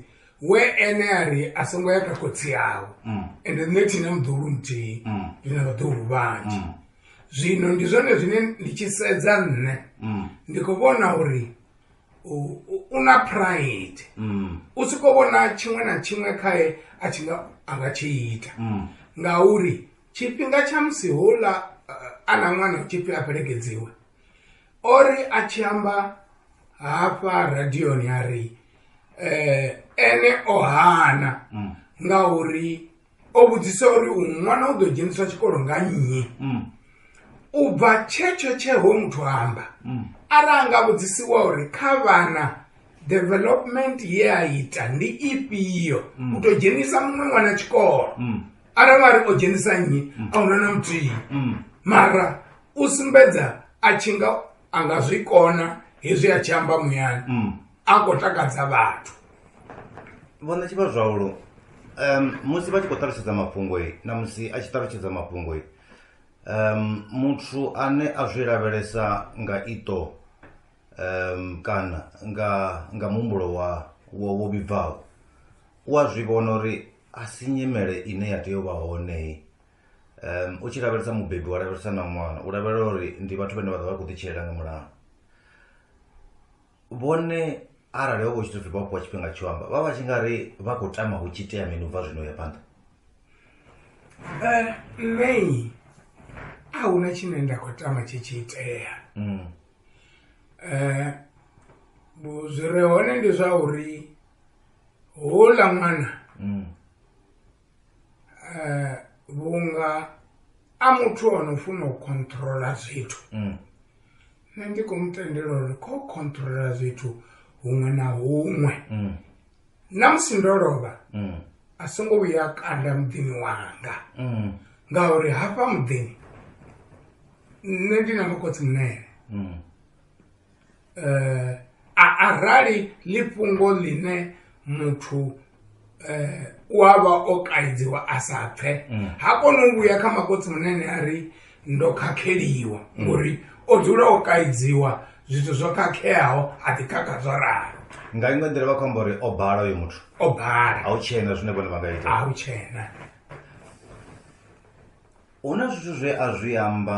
we ene a ri a songo ya kha khotsi yawo mm. ende nṋe thina muḓulu muthihi mm. ndi na vhaḓulu vhanzhi mm. zwino ndi zwone zwine ndi tshi sedza nṋe mm. ndi khou vhona uri u na pride mm. u si khou vhona tshiṅwe na tshiṅwe khae a tshi nga a nga tshi ita mm. ngauri tshifhinga tsha musi houḽa a na ṅwana u tshipfi a fhelekedziwe o ri a tshi amba hafha radioni a ri um ene o hana mm. nga uri o vhudzisa uri u ṅwana u ḓo dzheniswa tshikolo nga nnyi mm. u bva tshetsho tsheho muthu amba mm. ara a nga vhudzisiwa uri kha vhana development ye a ita ndi ifhio u ḓo dzhenisa muṅwe ṅwana tshikolo arali a ri o dzhenisa nnyi mm. a huna na muthihi mm. mara u sumbedza a tshi nga a nga zwi kona hezwi a tshi amba muyani mm. a khou takadza vhathu vhona tshi vha zwaulo um musi vha tshi khou ṱalutshedza mafhungo na musi a tshi ṱalutshedza mafhungo um muthu ane a zwi lavhelesa nga ito um kana nga nga muhumbulo wa wo vhibvaho u a zwi vhona uri a si nyimele ine ya tea u vha hone um u tshi lavhelesa mubebi wa lavhelesa na ṅwana u lavhelela uri ndi vhathu vhane vha ḓo vha khou ḓitshilela nga mulayo vhone arali ho vho tshithu vha fhiwa tshifhinga tsho amba vha vha tshi nga ri vha khou tama hu tshi tea mini u bva zwino ya phanḓa eh, nṋe a hu na tshine nda khou tama tshi tshi itea um zwi re hone ndi zwa uri houḽa ṅwana mm. eh, vhunga a muthu o no funa u controla zwithu mm. nṋe ndi khou mu tendela uri kho controla zwithu huṅwe na huṅwe mm. na musi ndo lovha a songo vhuya kanda muḓini wanga ngauri hafha muḓini nṋe ndi na makhotsi munene eh, arali ḽi fhungo ḽine muthu eh, u a vha o kaidziwa a sa pfhe mm. ha koni u vhuya kha makotsi munene a ri ndo khakheliwa mm. ngori o dzula o kaidziwa zwithu zwo khakheaho a ḓi khakha zwo ralo nga iṅwe nḓila vha khou amba uri o bala uyo muthu o bala a u tshena zwine vhone vha nga ita a u tshena hu na zwithu zwe a zwi amba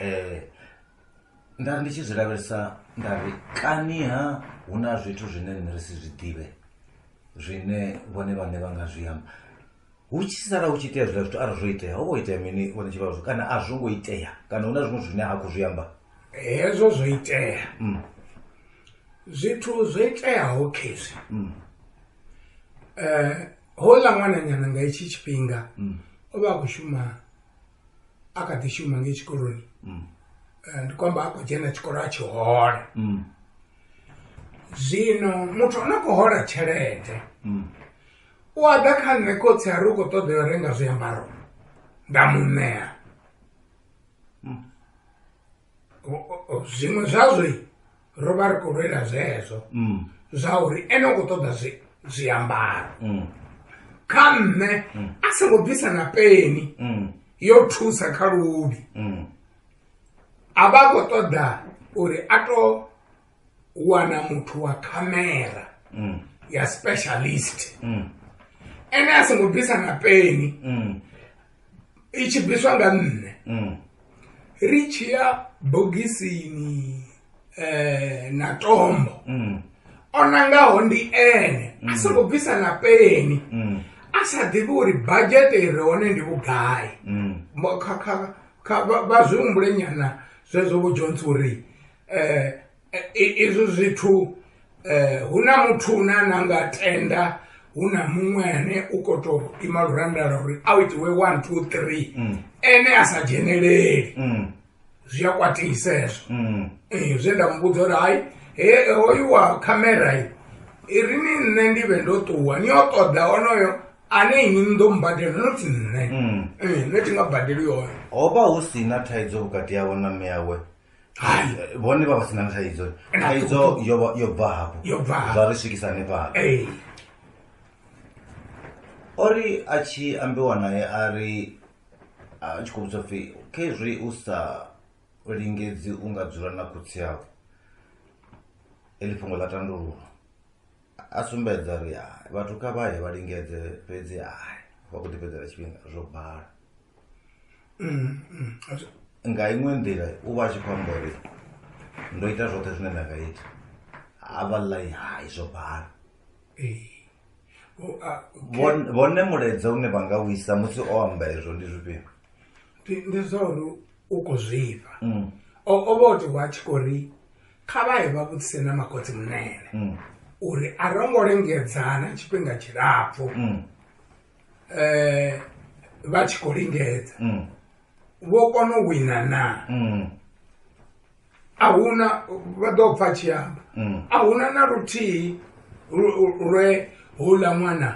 um nda ri ndi tshi zwi lavhelesa nda ri kaniha hu na zwithu zwine nṋe ri si zwi ḓivhe zwine vhone vhaṋe vha nga zwi amba hu tshi sala hu tshi itea zwiḽa zwithu arali zwo itea ho vho itea mini vhone tshi vhazwo kana a zwo ngo itea kana hu na zwiṅwe zwine ha khou zwi amba hezwo zwo itea mm. zwithu zwo iteaho khezwi mm. um eh, houḽa ṅwananyana nga itshi tshifhinga mm. o vha a khou shuma a kha ḓi shuma ngei tshikoloni mm. eh, ndi khou amba a khou dzhena tshikolo a tshi hola mm. zwino muthu ono khou hola tshelede mm. u a ḓa kha nṋe khotsi a ri u khou ṱoḓa yo renga zwiambaro nda mu ṋea zwiṅwe zwazwo ro vha ri khou lwela zwezwo mm. zwa uri ene u khou ṱoḓa zwiambaro mm. kha nṋe mm. a songo bvisa na peni yo thusa kha luvhi a vha a khou ṱoḓa uri a to u wana muthu wa khamera mm. ya specialist mm. ene a songo bvisa na peni mm. i tshi bviswa nga nṋe mm. ri tshi ya bogisini eh, na tombo mm. o nangaho ndi ene mm. a songo bvisa na peni mm. a sa ḓivhi uri bajete i re hone ndi vhugai mm. vha zwi humbule nyana zwezwo vho jones uri izwo zwithu hu na muthu une a na nga tenda hu na muṅwe ane u kho to ima luranda lwa uri a itiwe one two three mm. ene a sa dzheneleli mm. zwi a kwatisa hezwo mm. eh, zwe nda muvhudza uri hai he hoyu wa khamera i ri ni nṋe ndi vhe ndo ṱuwa ni yo ṱoḓa onoyo ane ini ni ḓo mbadela no ti nṋe eh, nṋe ti nga badeli yoyo ho vha hu si na thaidzo vhukati yawe na mme yawe hai Eh, vhone vha vha sina thaidzo Na thaidzo ṱuku. yo vha- yo bva hafho Yo bva hafho. zwa ri swikisa hanefhala ee o ri a tshi ambiwa naye a ri a tshi khou vhudzwa pfhi khezwi u sa lingedzi u nga dzula na khotsi yau eḽi fhungo ḽa tandululwa a sumbedza ri hai vhathu kha vha ye vha lingedze fhedzi hai vha khou ḓi fhedzela tshifhinga zwo bala Mm, mm. Ati- nga iṅwe nḓila u vha a tshi khou amba uri ndo ita zwoṱhe zwine nda nga ita a vha ḽai hai zwo bala eh. O- a- Vhon- vhone mulaedza une vha nga u isa musi o amba ezwo ndi zwifhio ndi- ndi zwa uri u khou zwifha Mm, o o vha o tiwa a tshi khou ri kha vha ye vha vhudzise na makhotsi munene mm, uri a ro ngo lengedzana tshifhinga tshilapfhu mm, eh, vha tshi khou lingedza mm. vho kona u wina na mm. a huna vha ḓo pfa tshi amba mm. a huna na luthihi lwe houḽa ṅwana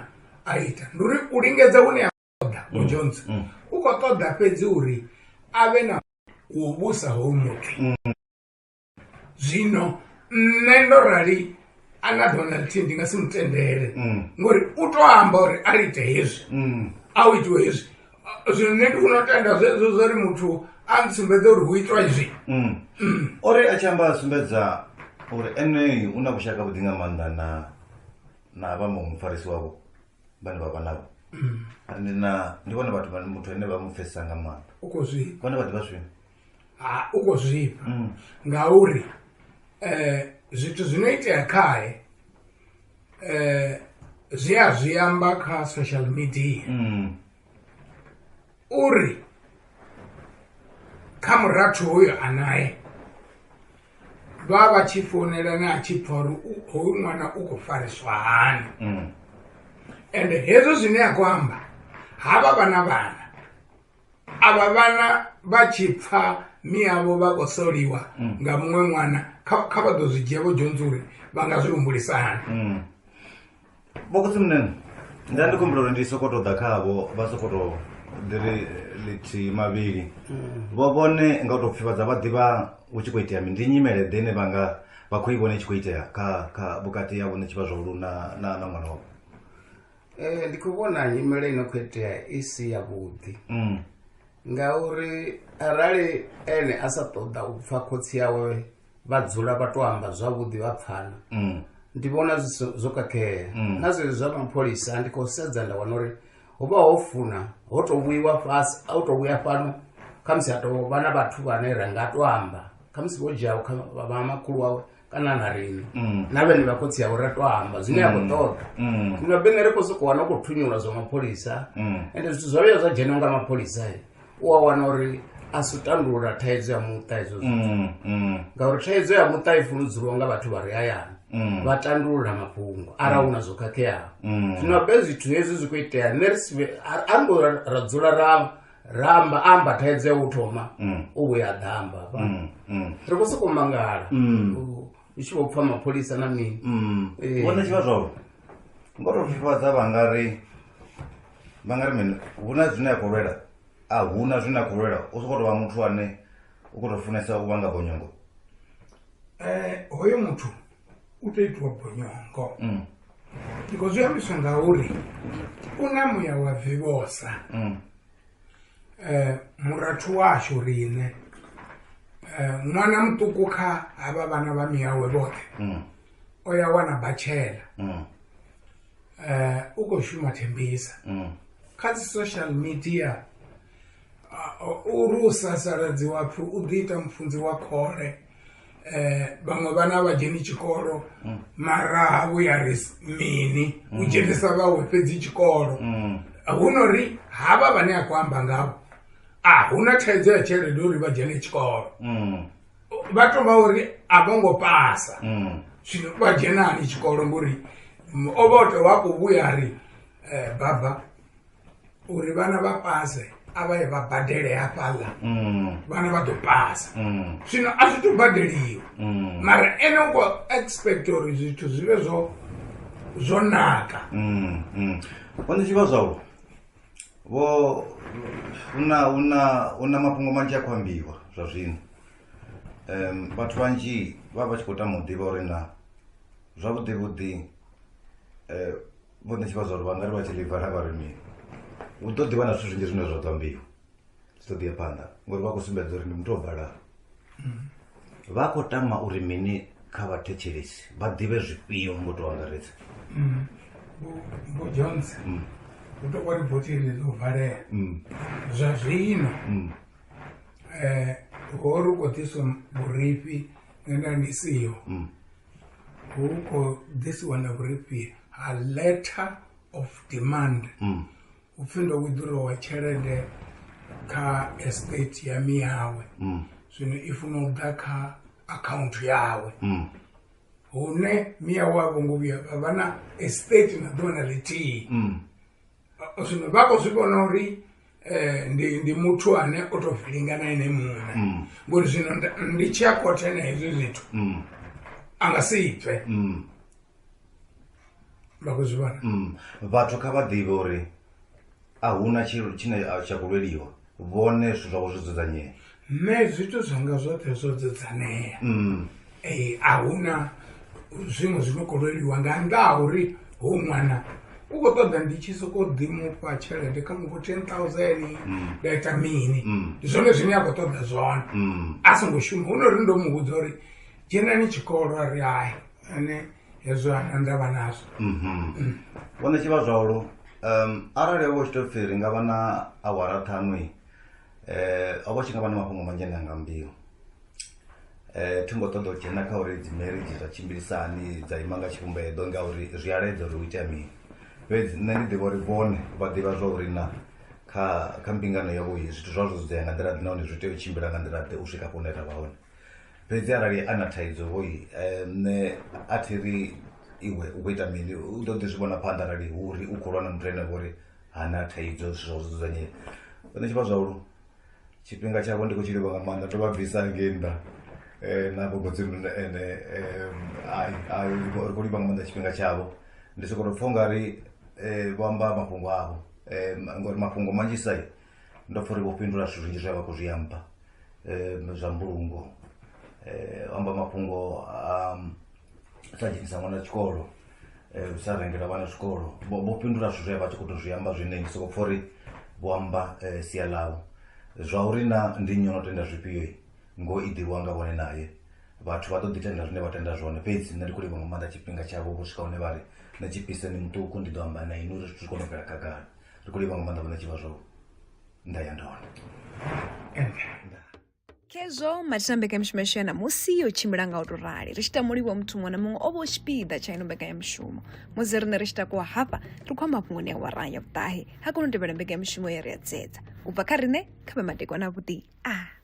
a ita ndi uri u lingedza hune a ṱoḓa mm. ujohnson mm. u khou ṱoḓa fhedzi uri a vhe na u vhusa hou muthu mm. zwino nṋe ndo rali ana donald t ndi nga si mutendele mm. ngori u to amba uri a lite hezwi mm. a u itiwe hezwi zwino nṋe ndi funa u tenda zwezwo zwo ri muthu a ntsumbedza uri hu itwa izwi mm. o ri a tshi amba a sumbedza uri ene u na vhushaka vhuḓi nga maanḓa na na vha muṅwe mufarisi wavho vhane vha vha navho ndi na ndi vhone vhathu muthu ane vha mu pfesesa nga maanḓa u khou zwi vhone vha ḓivha zwino ha u khou zwifha mm. ngauri um zwithu zwi no itea khae um zwi a zwi amba kha social media mm. uri kha murathu hoyo a nae vha vha tshi founelana a tshi pfa uri hoyu ṅwana u khou fariswa hani mm. ende hezwo zwine a khou amba ha vha vha na vhana avha vhana vha tshi pfa miavho vha khou soliwa mm. nga muṅwe ṅwana kha vha ḓo zwi dzhia vho dzhonzi uri vha nga zwi humbulisa hani mm. vhokotsi munene nda ndi khumbula uri ndi soko to ḓa khavho vha soko to ḓiri lithihi mavhili mm. vho vhone nga u tou pfivhadza vha ḓivha hu tshi khou itea mi ndi nyimele ḓe ine vha nga vha khou i vhona i tshi khou itea kha kha vhukati ya vhone tshivha zwahulu na na na ṅwana wavho Eh, ndi khou vhona nyimele ino khou itea i si ya vhuḓi mm. ngauri arali ene a sa ṱoḓa u pfa khotsi yawe vha dzula vha to amba zwavhuḓi vha pfana mm. ndi vhona zwo kakhea mm. na zwezwi zwa mapholisa ndi khou sedza nda wana uri ho vha ho funa ho to vhuiwa fhasi a u to vhuya fhano khamusi a to vha na vhathu vhane ra nga to amba khamusi vho dzhiaho kha vha makhulu wawe kana na riṋe Mm. na vhene vha khotsi avho ra to amba zwine a khou ṱoḓa Mm. zwino bene ri khou sokou wana u khou thunyulwa zwa mapholisa Mm. ende zwithu zwa vhuya zwa dzhena nga mapholisa eh, u a wana uri a si u tandulula thaidzo ya muṱa hezwo zwithu Mm. Mm. ngauri thaidzo ya muṱa i fuludzulwa nga vhathu vha re hayani Mm. vha tandulula mafhungo arali hu na zwo khakheaho Mm. zwino be zwithu hezwi zwi khou itea nṋe ri si vhe- a- a ri ngo ra- ra dzula ra ramba amba thaidzo ya u thoma mm. u vhuya ḓamba hafha mm, mm. ri khou sokou mangala u tshi vho pfa mapholisa na mini eh. vhona tshivha zwavho ngo to fhifhadza vha nga ri vha nga ri mini hu na zwine a khou lwela a hu na zwine a khou lwela u sokou tovha muthu ane u khou to funesa u vha nga bonyongo eh, hoyo muthu u tea itiwa bonyongo mm. ndiko zwi ambiswa nga uri u na muya wa vivhosa um mm. murathu washu riṋe um ṅwana muṱuku kha havha vhana vha miyawe vhoṱhe mm. o ya wana batshela um u khou shuma thembisa kha dzi social media u ri u sasaladziwa pfhi u ḓi ita mufunzi wa khole eh vhaṅwe vhana a vha dzheni tshikolo mm. mara ha vhu ya ri mini u mm. dzhenisa vhawe fhedzi tshikolo mm. hu no ri havha vhane a khou amba ngavho a hu na thaidzo ya tshelede uri vha dzhene tshikolo vha tou vha uri a vho ngo pasa zwino vha dzhenani tshikolo ngori o vha o tou vha khou vhuya ri eh, baba uri vhana vha pase a vha ye vha badele hafhaḽa mm. vhana vha ḓo pasa mm. zwino a zwi to badeliwa mm. mara ene u khou expect uri zwithu zwi vhe zwo zwo naka one zwi vha zwau vho una una una mafhungo manzhi a khou ambiwa zwa zwino um vhathu vhanzhi vha vha tshi khou tama u ḓivha uri na zwavhuḓi vhuḓi um ngo ni tshi vha zwa uri vhangari vha tshi ḽiva ra vha ri mini u ḓo ḓivha na zwithu zwinzhi zwine zwa ḓo ambiwa zwi ḓo ḓiya phanḓa ngori vha khou sumbedza uri ndi muthu o vhalaho vha khou tama uri mini kha vhathetshelesi vha ḓivhe zwifhio ngo tou angaredza vho jones hu tou vha riboti ḽi ḽo valea zwa zwino um ho ri u khou ḓiswa vhurifhi nda ndi siho huko this one of repeat a letter of demand mm. upfi ndo withdrawa tshelede kha estate ya miyawe mm. zwino i funa u ḓa kha akhaunthu yawe mm. hune miyawe a vho ngo vhuya vha vha na estate na ḓuvha na ḽithihi mm. zwino vha khou zwi vhona uri Eh, ndi ndi muthu ane o to filinga na ene muṋe mm. ngori zwino ndi tshi a khothe na hezwi zwithu mm. a nga si pfe mm. vha khou zwi vhona vhathu kha vha ḓivhe uri a huna tshilo tshine tsha khou lweliwa vhone zwithu zwavho zwo dzudzanyea nṋe zwithu zwanga zwoṱhe zwo dzudzanea mm. ee a huna zwiṅwe zwi no khou lweliwa nga nnḓa ha uri ho ṅwana u khou ṱoḓa ndi tshi sokou ḓi mufha tshelede kha mufho ten thousand mm. nda ita mini mm. ndi zwone zwine a khou ṱoḓa zwone a songo shuma hu no ri ndo mu vhudza uri dzhenani tshikolo a ri hai ane hezwo nda vha nazwo mhm. vhone tshi vha zwalo um arali wo tshi tou pfhi ri nga vha na awara ṱhanu i eh, um o vha tshi nga vha na mafhungo manzhi ane anga mbio um eh, thi ngo ṱoḓa u dzhena kha uri dzi marriage dza tshimbilisani dza ima nga tshivhumbedo ngauri zwi aledza uri u itea mini fhedzi nṋe ndi ḓivha uri vhone vha ḓivha zwa uri na kha kha mbingano yavho zwithu zwazwo zwi ḓoya nga nḓila ḓe nahone zwi tea u tshimbila nga nḓila ḓe u swika kune ra vha hone fhedzi arali a na thaidzo hoi eh, nṋe a thi ri iwe u khou ita mini u ḓo ḓi zwi vhona phanḓa arali hu uri u khou lwa na muthu ene vhori ha na thaidzo zwithu zwawe zwi dzudzanyea fhedzi tshi vha zwaulo tshifhinga tshavho ndi khou tshi livha nga maanḓa ndo vha bvisa ngei nnḓa eh, na gogodzimu ene eh, ai, ai, ri khou ri khou livha nga maanḓa tshifhinga tshavho ndi sokou tou pfha u nga ri eh, vho amba mafhungo avho eh, ma- ngori mafhungo manzhisa ndo pfha uri vho fhindula zwithu zwinzhi zwe vha khou zwi amba eh, zwa mbulungo eh, o amba mafhungo a um, sa dzhenisa ṅwana tshikolo eh, u sa rengela vhana tshikolo vho vho fhindula zwithu zwe vha tshi khou tou zwi amba zwine ndi soko pfha uri vho amba eh, sia ḽau zwa uri na ndi nnyi o no tenda zwifhio i, ngo i ḓivhiwa nga vhone naye vhathu vha ḓo ḓi tenda zwine vha tenda zwone fhedzi nṋe ndi khou livha nga maanḓa tshifhinga tshavho vho swika hune vha ri na tshipiseni muṱuku ndi ḓo amba na inwi uri zwithu zwi kone u bvela khagala ndi khou livha nga maanḓa vhona tshivha zwavho nda ya ndona khezwo mathina mbekanyamushumo yashu ya ṋamusi yo tshimbila nga u tou rali ri tshi ita mulivho muthu muṅwe na muṅwe o vha u tshipiḓa tsha ino mbekanyamushumo musi riṋe ri tshi takuwa hafha ri khou amba mafhungoni a wara ya vhuṱahe ha kona u tevhela mbekanyamushumo ye ri a dzedza u bva kha riṋe kha vhe madekwana avhuḓi a